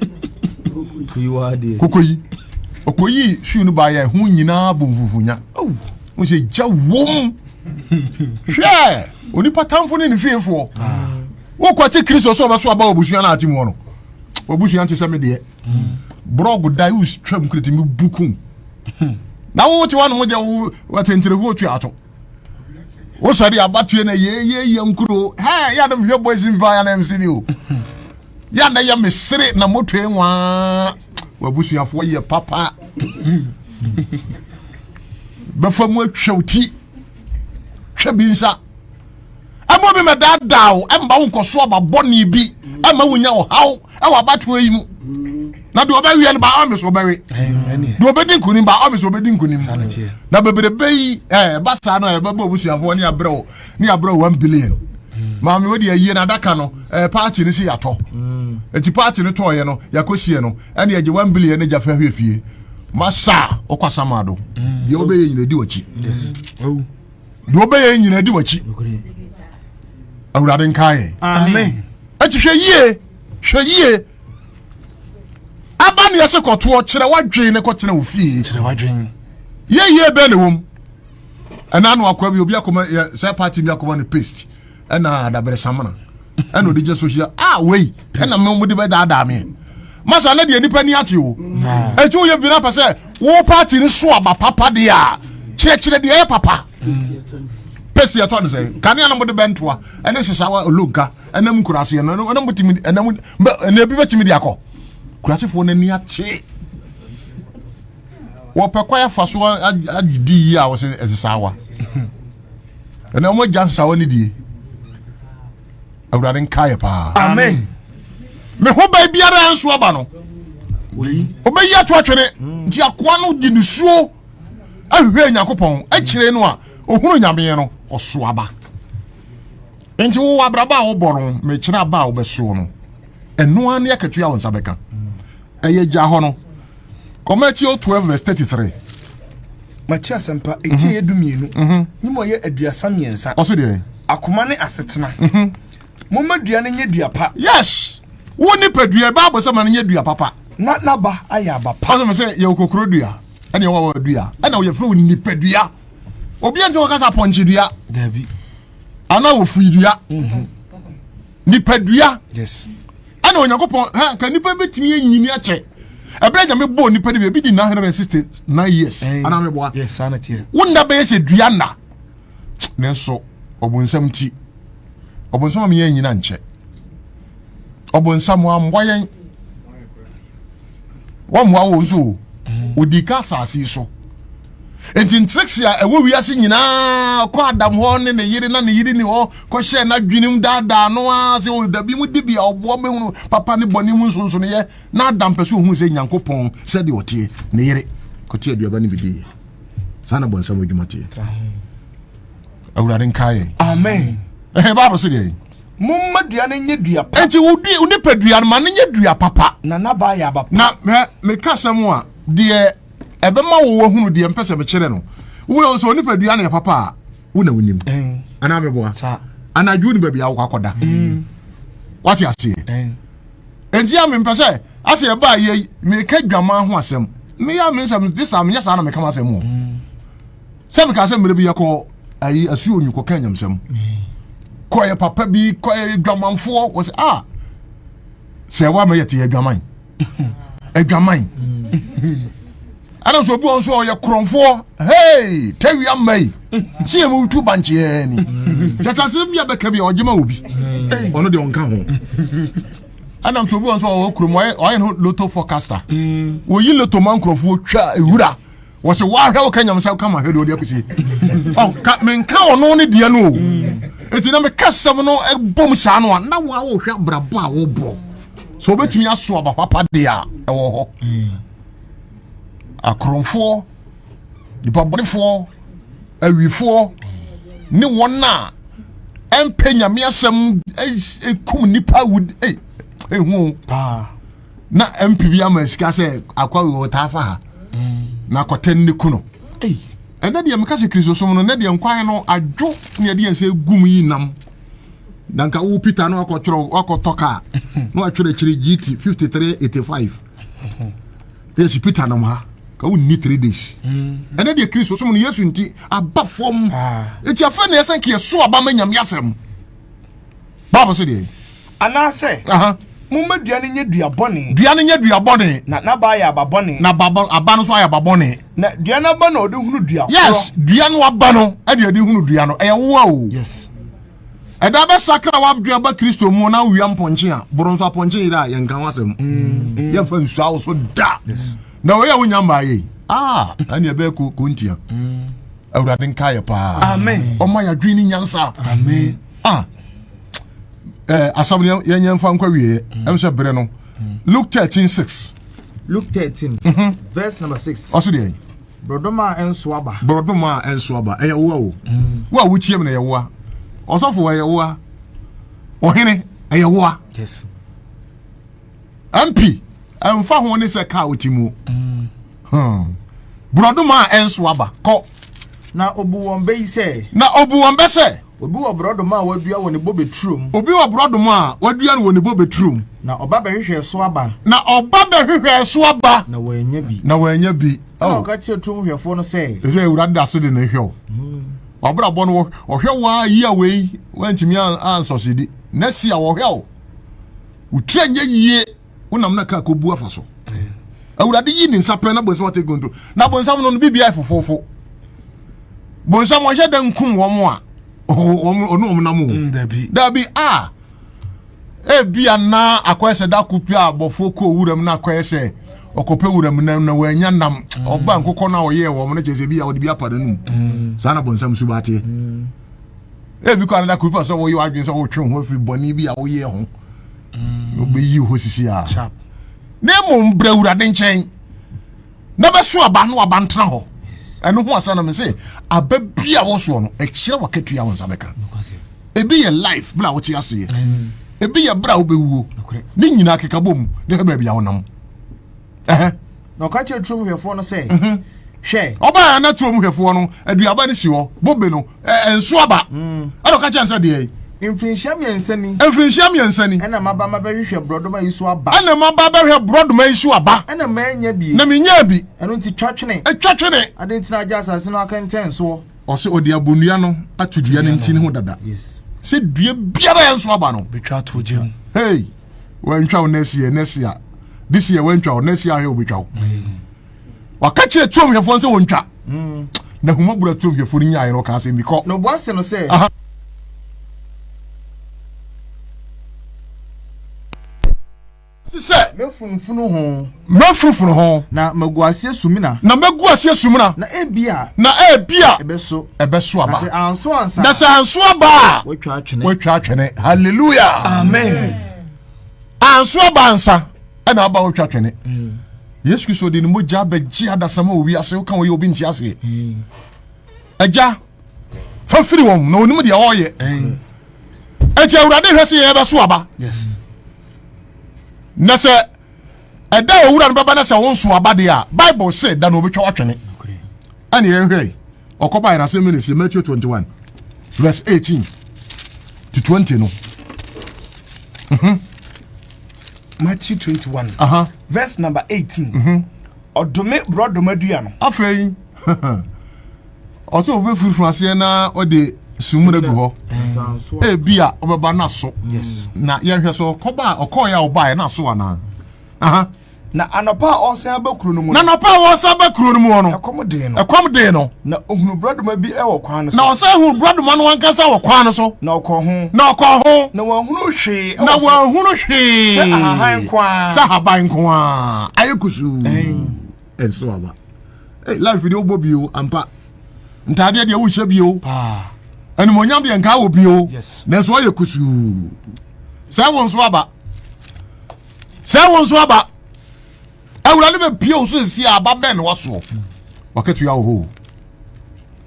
koko yi ɔkɔyii hwiw no baayɛ ho nyinaa bɔ mfufunya wo sɛ gya wom hwɛ onipa tamfo ne ne fiefoɔ ah. wokwate kristo sɛ ɔbɛso aba wɔbusua no ate mu no wɔbusua nte sɛ me deɛ brɔg da wotwam kretimi bukum na wote woanom gya wo atenterefoɔ tua ato wosɔ de abatoɛ na yɛyɛyɛ nkuro hɛ yɛ adom hwɛ boys mfa ya na mc bi o yɛ na yɛ mesere na motoe nwaa wabusuafoɔ yɛ papa bɛfa mu atwa wo ti twɛ bi nsa ɛma obi ma daadaa wo ɛma wo nkɔso aba bɔne bi ɛma wonya ɔhaw ɛwɔ abatoɔ yi mu na deɛ ɔbɛweɛ no ba ɔme so ɔbɛwe deɛ ɔbɛdi nkonim ba ɔme so ɔbɛdi nkonim na bebrebe yi ɛba saa no a yɛbɛbɔ abusuafoɔ ne abrɛ wo ne abrɛ one billion maame wode ayie no adaka no paakye no si yɛatɔ nti paakye no tɔɔyɛ no yɛakɔsie no ɛne yɛgye one billion no gya fa hwɛ fie masa ɔkwasa ma do deɛ wobɛyɛ nyina di wakyi deɛ ɔbɛyɛ nyina di wakyi awurade nka yɛn ɛti hwɛ yie hwɛ yie aba ne ɛsɛ kɔtoɔ kyerɛ wadwen ne kɔtena wo fie yɛyie bɛɛ ne wom ɛna no akɔ bi obi akɔma sɛ party bi akɔma no paste ɛna adabere samana ɛna ɔde gyɛ sohyia a wei ɛna mo mo de bɛ daadaa mi masa ne deɛ nipa ni ate o etu yɛ bi na pɛ sɛ wo paati ni so aba papa deɛ a kyerɛkyerɛ deɛ ɛyɛ papa pɛsi ɛtɔ ne sɛ kanea na mo de bɛ ntoa ɛne sisawa olonka ɛnam nkuraase ɛna ɛna mo timi ɛna mo ɛna ebi bɛ timi de akɔ kurasefoɔ n'ani ate wɔpɛ kɔ afa so agye di yie a wɔsɛ ɛsisawa. Ɛnɛ wɔn agya nsawa ne die. Awurade nka yɛ paa. Amen. Me ho bɛn biara yɛn nso aba no. Obeyi ato atwene hmm. nti akoa no gye ne suo ahwehwɛ Nyankopɔn akyire no a ohunu nyameɛ no ɔso aba. Nti wo abraba a wobɔ no mekyerɛ aba a wobɛsoɔ no ɛnoa ne akatua wo nsa bɛka. Ɛyɛ gya hɔ no. Kɔ Matthew 12 verse 33. Mate asɛmpa, ɛti mhm. ɛyɛ du mmienu, mhm. ne mu ɛyɛ aduasa mmiɛnsa. Ɔse deɛ? Akoma ne asetena. Mhm. Momma dua no nyɛ dua pa. Yes! Wo nipadua, Bible sɛ ma no nyɛ dua papa. Na n'aba ayɛ aba pa. Ɔsɛ sɛ yɛwɔ kokoro dua, ɛne ɛwɔ awɔ dua, ɛna wɔyɛfrɛ wo nipadua. Obi ɛntwe wɔkasa pɔnkye dua. Dabi. Ana ofui dua. nipadua yes ɛna onyankopɔn ha ka nipa betumi anyini akyɛ ɛbɛrɛ gyame bɔɔ nipa no bi ebi di nine hundred and sixty nine years anaa mi bɔa yes saa na tiɛ wɔn nna bɛyɛ sɛ dua nna nanso ɔbɔnsam ti ɔbɔnsam a mi yɛ nyina nkyɛ ɔbɔnsam amboa yɛn. wɔmmoa wo nso o mhm. ɔdi ka asase so nti ntirikisi a ɛwɔ wiase nyinaa kɔ adam hɔ ne ne yere na ne yere ni hɔ kɔhyɛ n'adwenem daadaa no ara sɛ ɔdabi oh, mu dibi a ɔboɔ mehunu papa ne bɔne mu nsonsonoyɛ na adam pɛ sɛ ɔhunu sɛ nyankopɔn sɛdeɛ ɔteɛ ne yere kɔte aduaba no bi diiɛ saa na bɔnsam adwuma teɛ awurade nkaeɛ amen ɛhɛ bible sɛ deɛ Momma dua no nyɛ dua pa. Enti wo dua, wo nipadua no ma no nyɛ dua papa. Na n'aba yɛ aba pa. Na hwɛ, meka asɛm a deɛ ɛbɛma wo wahunu deɛ mpɛ sɛ mekyerɛ no. Wowura nso nipadua no yɛ papa a, wo na wonim. Anaa meboa? Anadwo ni baabi a wokɔ akɔda. Mm. Wate aseɛ? Enti a mempɛ sɛ asɛ ɛbaa yɛ meka dwamaa ho asɛm. Meya me nsɛm, de saa menyɛ saa na meka m'asɛm o. Mm. sɛ mekaa sɛ mmerɛ bi yɛkɔ ayi asuo onyi kɔka anyamsɛm kɔyɛ papa bi kɔyɛ adwamanfoɔ wɔ sɛ a ah, sɛ ɛwɔ ama yɛte yɛ adwaman adwaman ɛna sɛ obi wɔn so ɔyɛ korɔnfoɔ hei tawi ama yi si yɛ mu tu bankyeɛ ni kyɛ sɛ asɛm bi a bɛka bi a ɔgye ma obi ɔno deɛ ɔnka ho ɛna sɛ obi wɔn so ɔwɔ kurom ɔyɛ no loto forecaster wɔyi loto ma nkorɔfoɔ twa ewura wɔsɛ wɔahwɛ wo ka nyame sɛ woka ma hwɛ deɛ ɔde akɔsie menka ɔno ne deɛ no o ɛti na meka sɛm no bom saa no a na woa wohwɛ abrabɔ a wobɔ sɛ wobɛtumi aso aba papa deɛ a ɛwɔ hɔ akorɔmfoɔ nipa bɔnefoɔ awifoɔ ne wɔn a ɛmpɛ nyame asɛm ɛkum nipa wud ɛhu paa na mp bi ama sika sɛ akwa wei wɔtaa fa ha na akɔtɛn ne ku no ɛnɛ deɛ meka sɛ kristosom no nɛ deɛ nkwan no adwo ne ɛdeɛ sɛ gum yi nam na nka wo peter no akɔtwerɛ wakɔtɔ kaa na watwerɛ akyiri gt 5385 na yɛsi peter nam ha ka wonni three days mm. ɛnɛ deɛ kristosom no yesu nti aba fam ɛti ah. afei na ɛsɛ nka yɛso aba ma nyame asɛm bible sɛ deɛ Anaasɛ, Momma dua no nyɛ dua bɔne. Dua no nyɛ dua bɔne. Na n'aba ayɛ aba bɔne. Na aba aba no nso ayɛ aba bɔne. Na dua no aba na ɔde hunu dua korɔ. Yes, dua no aba no ɛde ɛde hunu dua no ɛyɛ wowa o. Yes. Ɛda bɛ sakra w'adwene aba Kristo mu na wia mpɔnkye a boro nso apɔnkye yere a yɛn kan ho asɛm. Mm. Yɛn fa nsu awo so da. Yes. Na wɔyɛ wo nya mmaa yɛ yi. Ah, ɛne ɛbɛyɛ ko ko ntia. Mm. Awurade nka yɛ paa. Amen. Ɔma yɛ adwene ne nyansa. Amen. Ah. ɛɛ asɛm no yɛn yɛn fa nkɔ wie mm. ɛmu sɛ bere no mm. luke thirteen six. luke thirteen mhm. verse number six. ɔsi deɛ. borɔdɔma ɛnso aba. borɔdɔma ɛnso aba ɛyɛ woa o mm. wo a wotia mu na ɛyɛ woa ɔsɔfo ɛyɛ woa ɔhene ɛyɛ woa. yes. mp ɛnfa ho ne sɛ kaa oti mu. Hmm. borɔdɔma ɛnso aba kɔ. na obu wɔn bɛ yi sɛ. na obu wɔn bɛ sɛ. Obi wɔ borɔdɔma a wadua wɔ ne bobe turom. Obi wɔ borɔdɔma a wadua no wɔ ne bobe turom. Na ɔba bɛhwehwɛɛ so aba. Na ɔba bɛhwehwɛɛ so aba. Na wannya bi. Na wannya bi. Ɛna oh. ɔka kyerɛ tum hwɛfoɔ no sɛ. Ɛsɛ awurade da so de ne hwɛ o. Hmm. Wabrabɔ no ɔhwɛ waa yi a wei wantumi ansɔsedi. Na si a wɔhwɛ o. Wotire nyɛ yie. wonam na kaa kɔbu afa so awurade yi ne nsa pɛ na bonsam ate gonto na bonsam no no biribiaa fofofo bonsam ɔhyɛ da nkum wɔn a ɔne wɔn nam o mm, dabi a ebia na akɔyɛ sɛ da ko pia abɔfoɔ kɔ wuram na akɔyɛ sɛ ɔkɔpɛ wuram nam na wɔanya nam mm. ɔba nkokɔ no a ɔyɛɛ wɔn no kyerɛ sɛ bi a wɔde bi apa no num mm. saa na bonsam so ba ateɛ ebi kɔ anada ko pia sɛ wɔyɛ wadwene sɛ wɔtwe ho afiri bɔne bi a wɔyɛ ho mm. wobɛyi wo hɔ sisi a na mmom brɛ awurade nkyɛn na bɛso aba no aba ntena hɔ ɛno ho asana me sɛ aba bi a wɔsoɔ no ɛkyerɛ wakatua wo nsa bɛka ebi yɛ life berɛ a wote aseɛ mm. ebi yɛ berɛ a wobɛwuo ne nyinaa kekabɔ mu ne hwɛ baabi a wonam Na ɔka kyerɛ turom hwɛfoɔ no sɛ, Hwɛ! Ɔbaa yɛ na turom hwɛfoɔ no aduaba no si hɔ, bobe no, ɛnso aba. Mm. Ɛna ɔka kyerɛ no sɛ deɛ. Mfirinhyia mmiɛnsa ni. Mfirinhyia mmiɛnsa ni. Ɛna maba mabɛhwehwɛ borɔdoma yi so aba. Ɛna maba bɛhwɛ borɔdoma yi so aba. Ɛna manya bi. Na menya bi. Ɛno nti twa twene. Twa twene. Ade nti na agya asase no akɛntɛn soɔ. Ɔsɛ ɔde abonnua no ato dua no ntini ho dada. Yes. Sɛ dua biara yɛn so aba no. Betwa ato gya mu. Hey. wantwa wo next year next year this year wantwa wo next year ahwɛ wobɛtwa wo waka kyerɛ tuom hwɛfoɔ sɛ wɔntwa mm. na huma bura tuom hwɛfoɔ no nyaeɛ no ɔka asɛm bi kɔ na ɔboa se no sɛ sisɛ mɛfunufunu ho Mɛfrufru ho. Na magu aseɛ sumina. Na mɛgu aseɛ sumina. Na ebia. Na ebia. Ɛbɛso. Ɛbɛso aba. Na sɛ anso ansa. Na sɛ anso aba a. Watwa atwene. Watwa atwene. Hallelujah. Amen. Anso aba ansa. Ɛna aba watwa atwene. Mm. Yesu Kristo de ne mogya bɛgye adasam a owi ase woka wɔyɛ obi nti aseɛ. Mm. Agya fa firi wɔn na onim deɛ ɔreyɛ. Mm. Ɛti awurade hwɛ sɛ yɛbɛso aba. Yes. Na sɛ ɛda a owura no bɛba na sɛ wonso aba deɛ a bible se da na ɔbɛtwa watwene ɛne yɛnhwɛ ɔkɔba yɛn asɛm ne sɛ matthew 21 verse 18 to 20 no mhm. matthew 21 uh -huh. verse number 18 ɔdome borɔdɔma dua no afei ɔsɛ ɔbɛ firi funu aseɛ na ɔde sumuna gu hɔ ebi a ɔbɛba na so na yɛhwɛ so ɔkɔba a ɔkɔɔ yɛ a ɔba yɛ na so anaa na anɔpa a ɔsan aba kuro no mu na anɔpa a ɔsan aba kuro no mu no ɛkɔm den no ɛkɔm den no na ohunu buradoma bi ɛwɔ kwan no so na ɔsan hunu buradoma no ankasa wɔ kwan no so na ɔkɔ ho na ɔkɔ ho na wɔahunu hwee na wɔahunu hwee sɛ ahaban nko ara sɛ ahaban nko ara ayɛ kusuu. ɛnso aba hey, life deɛ wobɔ bio ampa ntaadeɛ deɛ wohyɛ bio animonyam deɛ nka wɔ bio nanso ɔyɛ kusuu sɛ wo nso aba sɛ wo nso aba awurade bɛpie wo so ɛsi a aba bɛn na wasoɔ wakatua wo hoo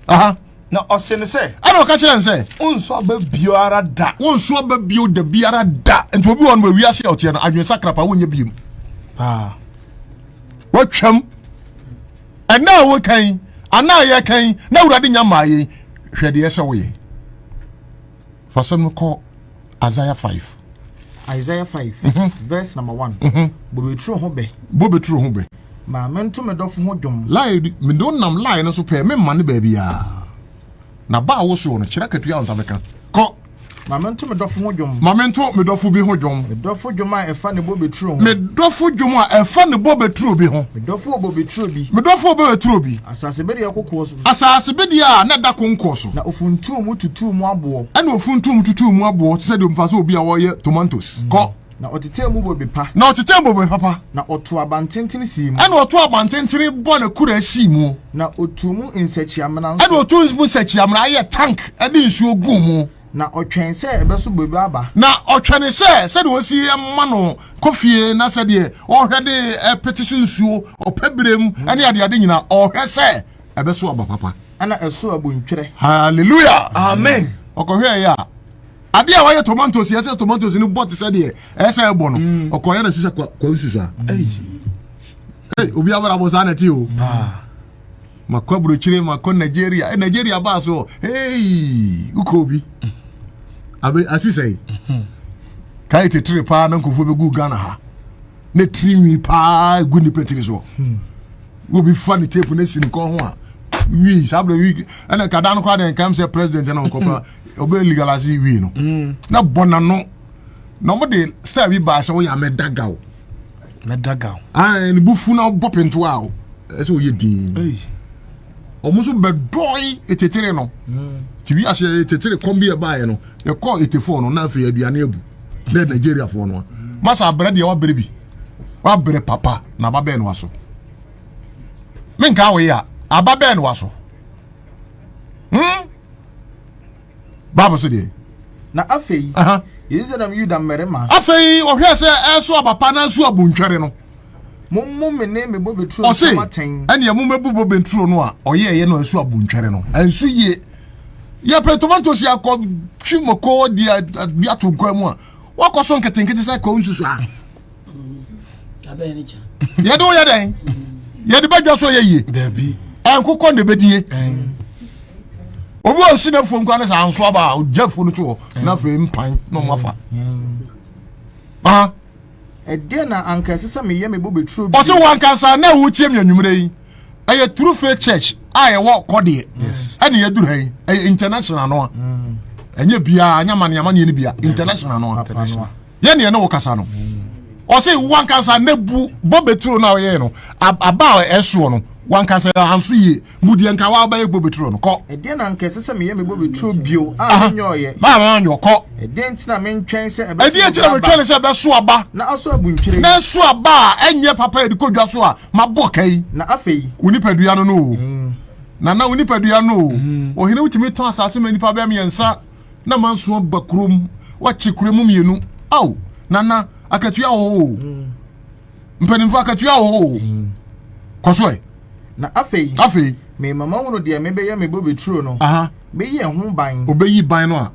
aha na ɔse no sɛ ɛna ɔka kyerɛ n sɛ wonso aba biara da wonso aba bio da biara da nti obi wɔ no bɛwiase a ɔteɛ no adwene sakrapa wonyɛ biom paa watwam ɛna a wokan yi ana a yɛkan yi na awurade nya maa yɛn hwɛ deɛ sɛ woyɛ fa sɛm no kɔ isaiah 5 isaiah 5 mm -hmm. verse number 1 mm -hmm. bobeturo ho bɛ bobeturo ho bɛ ma mento me dɔfo ho dwom lae mede wonam lae no so pɛɛ memma ne baabiaa na ba a wosoɔ no kyerɛ katua wo nsa bɛka kɔ Ma mento me dɔfo ho dwom. Ma mento me dɔfo bi ho dwom. Me dɔfo dwom a ɛfa ne bobeturo ho. Me dɔfo dwom a ɛfa ne bobeturo bi ho. Me dɔfo wɔ bobeturo bi. Me dɔfo wɔ bobeturo bi. Asasebedeɛ kokoɔ so. Asasebedeɛ a na ɛda konkoɔ so. Na ofuntumm tutuu mu aboɔ. Ɛna ofuntumm tutuu mu aboɔ te sɛ deɛ mfa sɛ obi a ɔreyɛ tomatoes. Kɔ. Na ɔtetɛɛ mu bobe pa. Na ɔtetɛɛ mu bobe papa. Na ɔtoo abantentene sii mu. Ɛna ɔtoo abantentene bɔ n'akuraa sii mu. Na ɔtuu mu nsakyiamena nso. Ɛna ɔtuu mu nsakyiamena yɛ tank de nsuo guu mu. Na ɔtwɛn sɛ ɛbɛso bobe aba. Na ɔtwɛne sɛ sɛdeɛ ɔsi ma no kɔ fie na sɛdeɛ ɔhwɛ de pete so nsuo ɔpɛ berɛ mu ne adeade nyina ɔhwɛ sɛ ɛbɛso aba papa. Ɛna ɛso abuntwerɛ. Hallelujah. Amen. Ɔkɔhwɛɛ yɛ a. adeɛ a wayɛ tomatoes yɛ sɛ tomatoes no bɔ te sɛ deɛ ɛyɛ sɛ ɛbɔ no mm. ɔkɔyɛ no te sɛ kwansusa mm. obi abrabɔ saa na ɛte o makɔ aburokyire makɔ nigeria eh, nigeria baa so ei wokɔ obi abe asi sɛe mm-hmm. kae tetere paa na nkurɔfoɔ bɛgu ghana ha na tiri nwi paa gu nnipa tiri soɔ hmm. wobi fa ne tape no asi ne kɔn ho a wii saa berɛ wii ɛna kada no koraa deɛ nkam sɛ president na ɔkɔpa ɔbɛ legalize yi wie no mm. na bɔ n'ano na wɔn de style bi baa sɛ wɔyɛ amɛdagaw mɛdagaw ɛɛ ne bufu na bɔ pento a ɛsɛ wɔyɛ dii wɔn nso bɛ dɔɔyi etetire no mm. ti wi ase etetire kɔm bi ɛbaayɛ no ɛkɔ etefo no n'afɛ aduane ebu ne nigeria fo no masa abere deɛ wabere bi wabere papa na ababɛn no aso menka wɔyɛ a ababɛn no aso. hmm? bible so deɛ na afei yɛyi sɛ nam yuda mmarima afei ɔhwɛ sɛ ɛso abapa na nso abontwɛre no mommo me ne me bobe turo ɔse ɛneɛ mommɛbu bobe turo no a ɔyɛɛyɛ no ɛso abontwɛre no ɛnso yie yɛpɛ tomatoes yɛ akɔ twi mako di ato nkwa mu a wakɔ so nketenkete sɛ kɔɔ nsusu a yɛde woyɛ dɛn yɛde bɛdwa so yɛ yie ɛnkokɔ na ɛbɛdie obi wɔ si nafuo nkwa ne sɛ anso aba a ɔgya afuo no to hɔ na afei mpan na ɔma fa ɛdeɛ na anka ɛsɛ sɛ meyɛ mebɔ bɛturo bi ɔsɛ wankasa na wotie me anwummerɛ yi ɛyɛ true faith church a yɛwɔ kɔdeɛ ɛne yɛduru ha yi ɛyɛ international no a ɛnyɛ biaa ɛnyɛ amaneamaneɛ no bia international no a yɛ ne yɛne wo kasa no ɔse wankasa ne bu bɔ beturo no a ɔyɛɛ no aba a ɛsoɔ no wankasa anso yie bu deɛ nka wabɛyɛ bɔ beturo no kɔ ɛdeɛ na nka ɛsɛ sɛ meyɛ me bɔ beturo bio a menyɛ ɔyɛ na menyɛ kɔ ɛdeɛ nti na mentwɛn sɛ ɛbɛso ɛdeɛ nti na metwɛn sɛ ɛbɛso aba na aso abu ntwere na ɛso aba a ɛnyɛ papa yɛde kɔ dwa so a mabɔ ka yi na afei wo nipadua no no o mm. na na wo nipadua no o mm. ɔhene wotumi tɔ asase ma nipa bɛɛ mmiɛnsa na manso aba kurom wakye kura mu mmienu ao nana akatua wɔ hɔ o mm. mpanimfoɔ akatua wɔ hɔ o mm. kɔ so ɛ na afei afei me mama hunu deɛ mebɛyɛ me bobe turo no bɛyi ɛho ban ɔbɛyi ban no a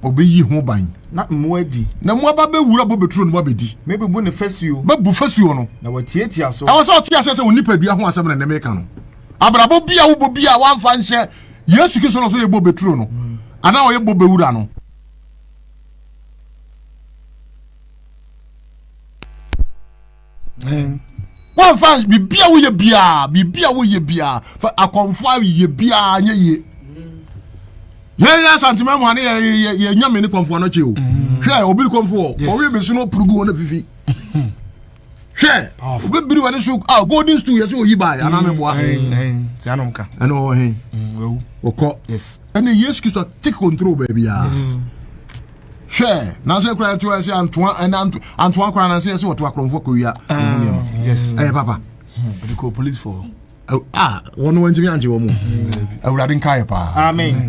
ɔbɛyi ho ban na mmoa di na mmoa ba bɛwura bobe turo no abɛdi mɛbubu ne fasuo mɛbu fasuo no na wɔtiatia so ɛwɔ sɛ ɔte aseɛ sɛ wo nipadua ho asɛm na nnɛ meka no abrabɔ bi a wobɔ bi a woamfa nhyɛ yesu kristo na ɔsɛ yɛ bobe turo no mm. anaa ɔyɛ bobe wura no mm. wɔmfa biribi a woyɛ biara biribi a woyɛ biara akɔmfo a yɛ biara nyɛ yie yɛn yɛ asantuma mu ane yɛ yɛ nyame ne kɔnfoɔ no kye o hwɛ obi kɔnfoɔ ɔwi bi so no purugu wɔn afifi. hwɛ wobɛbiri w'ani so a golden stool yɛ sɛ ɔyi baeɛ anaa meboa ɛne ɔwɔ he wɔkɔ ɛne yesu kristo take control baabiaa hwɛ nansɛ kora ɛte ɔyɛ sɛ antoa ɛne antoa kora nansɛ yɛ sɛ wɔto akorɔmfoɔ kɔwia ɛmu nneɛma ɛyɛ papa a wɔn wɔntumi angye wɔn mu awurade nka yɛ paa amen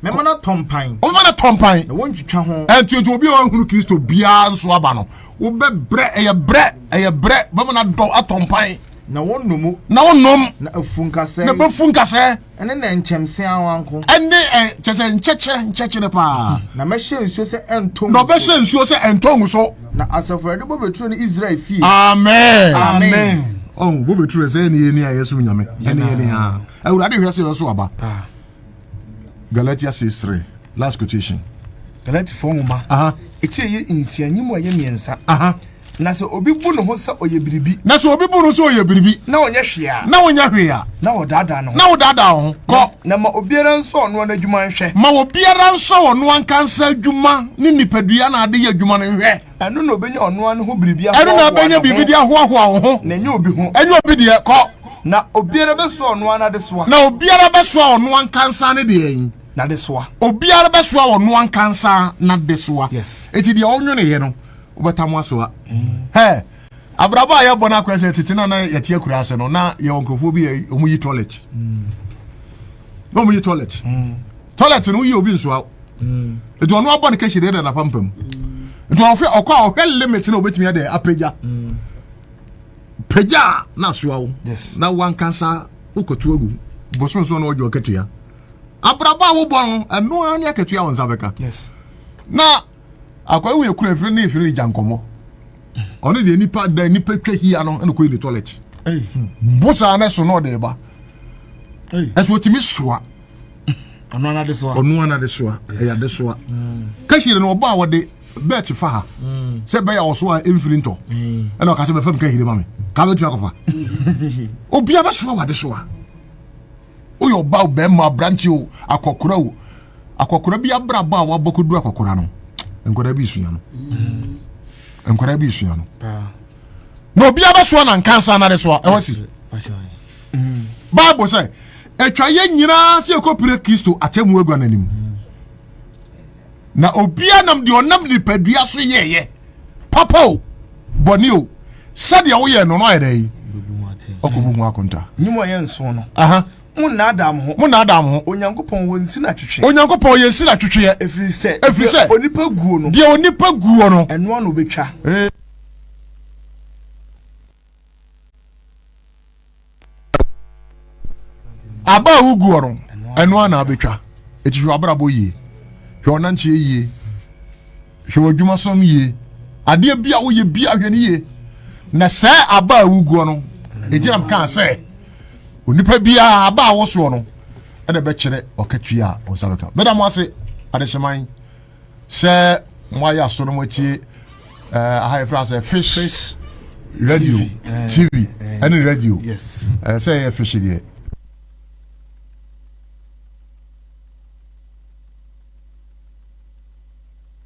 mɛma no atɔ mpan ɔma no atɔ mpan na wɔntwitwa ho ɛntutu obi a ɔhunu kristo biara nso aba no wobɛbrɛ ɛyɛ brɛ ɛyɛ brɛ bɛma no adɔ atɔ mpan na wɔnnom na wɔnnom na afu nkasɛɛ na bɛfu nkasɛɛ ɛne na nkyɛmse awanko ɛne ɛ kyɛ sɛ nkyɛkyerɛ nkyɛkyerɛ paa na mɛhyɛ nsuo sɛ ɛntɔ na ɔbɛhyɛ nsuo sɛ ɛntɔ ngu so Na asafo awurade bɔ bɛturo no israel fie amen amen ɔn bɔ bɛturo sɛ ɛne yɛni a yɛsom nyame ɛne yɛni a awurade hwɛ sɛ yɛso aba galatia 6 3 last quotation galatifoɔ nwoma ɛti ɛyɛ nsia nyi mu ɛyɛ mmiɛnsa na sɛ obi bu ne ho sɛ ɔyɛ biribi na sɛ obi bu no sɛ ɔyɛ biribi na ɔnyɛ hwee a na ɔnyɛ hwee a na ɔdaadaa ne ho na ɔdaadaa ho kɔ Na ma obiara nsɔ ɔno ara n'adwuma nhwɛ. Ma obiara nsɔ ɔno ankasa adwuma ne nipadua na ade yɛ adwuma no nhwɛ. Ɛno na obenya ɔno ara ne ho biribi ahoahoa ne ho. Ɛno na obenya biribi de ahoahoa wo ho. Na ɛnyɛ obi ho. Ɛnyɛ obi deɛ, kɔ. Na obiara bɛsoa ɔno ara n'adesoa. Na obiara bɛsoa ɔno ankasa ne deɛn? N'adesoa. Obiara bɛsoa ɔno ankasa n'adesoa. Yes. Eti deɛ ɔnweneyɛ no, wobɛtam asoa. Hɛ! Abrabɔ a yɛbɔ no akora sɛ tete na na yɛte akura ase no na yɛwɔ nkurɔfoɔ bi yɛ ɔmo yi toilet mm. na ɔmo yi toilet mm. toilet no woyi obi nsoa mm. nti ɔno abɔ no kɛhyɛ deɛ dada pampam nti ɔhwɛ ɔkɔ a ɔhwɛ limit na ɔbɛtumi adɛ apagya pagya a na asoa wo na wankasa wokɔto agu bosonsoɔ na ɔgye ɔkatua abrabɔ a wobɔ no ɛno ara ne akatua wo nsa bɛka na Akwa ewu ekura efiri ne efiri gya nkɔmɔ. Ɔno deɛ nipa da nipa twa hia no ɛna kɔyi ne tɔlɛt. Bosaa ne so na ɔde ba. Ɛso otimi soa. Ɔno anade soa. Ɔno anade soa. Ɛyɛ ade soa. Kahire no ɔba a wɔde bɛɛkye fa ha sɛ bɛyɛ a ɔso a ɛmfiri ntɔ ɛna ɔka sɛ bɛfam kahire ma me kaa bɛtumi akɔfa obia bɛsoa wade soa woyɛ ɔba o bɛrima aberante o akɔkora o akɔkora bi abrabɔ a wabɔ kɔdu akɔkora no nkwadaa bi sua no mm. nkwadaa bi sua no na obiara bɛsoa na nkansa na de soa ɛwɔ si mm. bible sɛ atwa yɛ nyinaa sɛ ɛkɔpire kristo akyɛ mu agua no anim mm. na obiara nam deɛ ɔnam nipadua so yɛɛyɛ papa o bɔne o sɛdeɛ woyɛ no no ayɛ dɛ yi ɔkɔbu ho akonta nyim ɔyɛ nso no monnaadaa mo ho monnaadaa mo ho onyankopɔn wɔ nsi na twetwe onyankopɔn yɛ nsi na twetweɛ ɛfiri sɛ ɛfiri sɛ onipa guo no deɛ onipa guo no ɛnoa na ɔbɛtwa aba a woguɔ no ɛno a na abɛtwa ɛti hwɛ abrabɔ yie hwɛ ɔnanteɛ yie hwɛ ɔdwuma som yie adeɛ bi a woyɛ bi ahwɛ no yie na sɛ aba a woguɔ no ɛgyinam kaa sɛ onipa biara aba a wosoɔ no ɛna bɛkyerɛ ɔkatua a ɔnsa bɛka mɛda mo ase adehyeman sɛ mo ayɛ aso no mo atie ɛɛ aha yɛ fira sɛ fish radio tv ɛne radio ɛɛ sɛ ɛyɛ fish deɛ.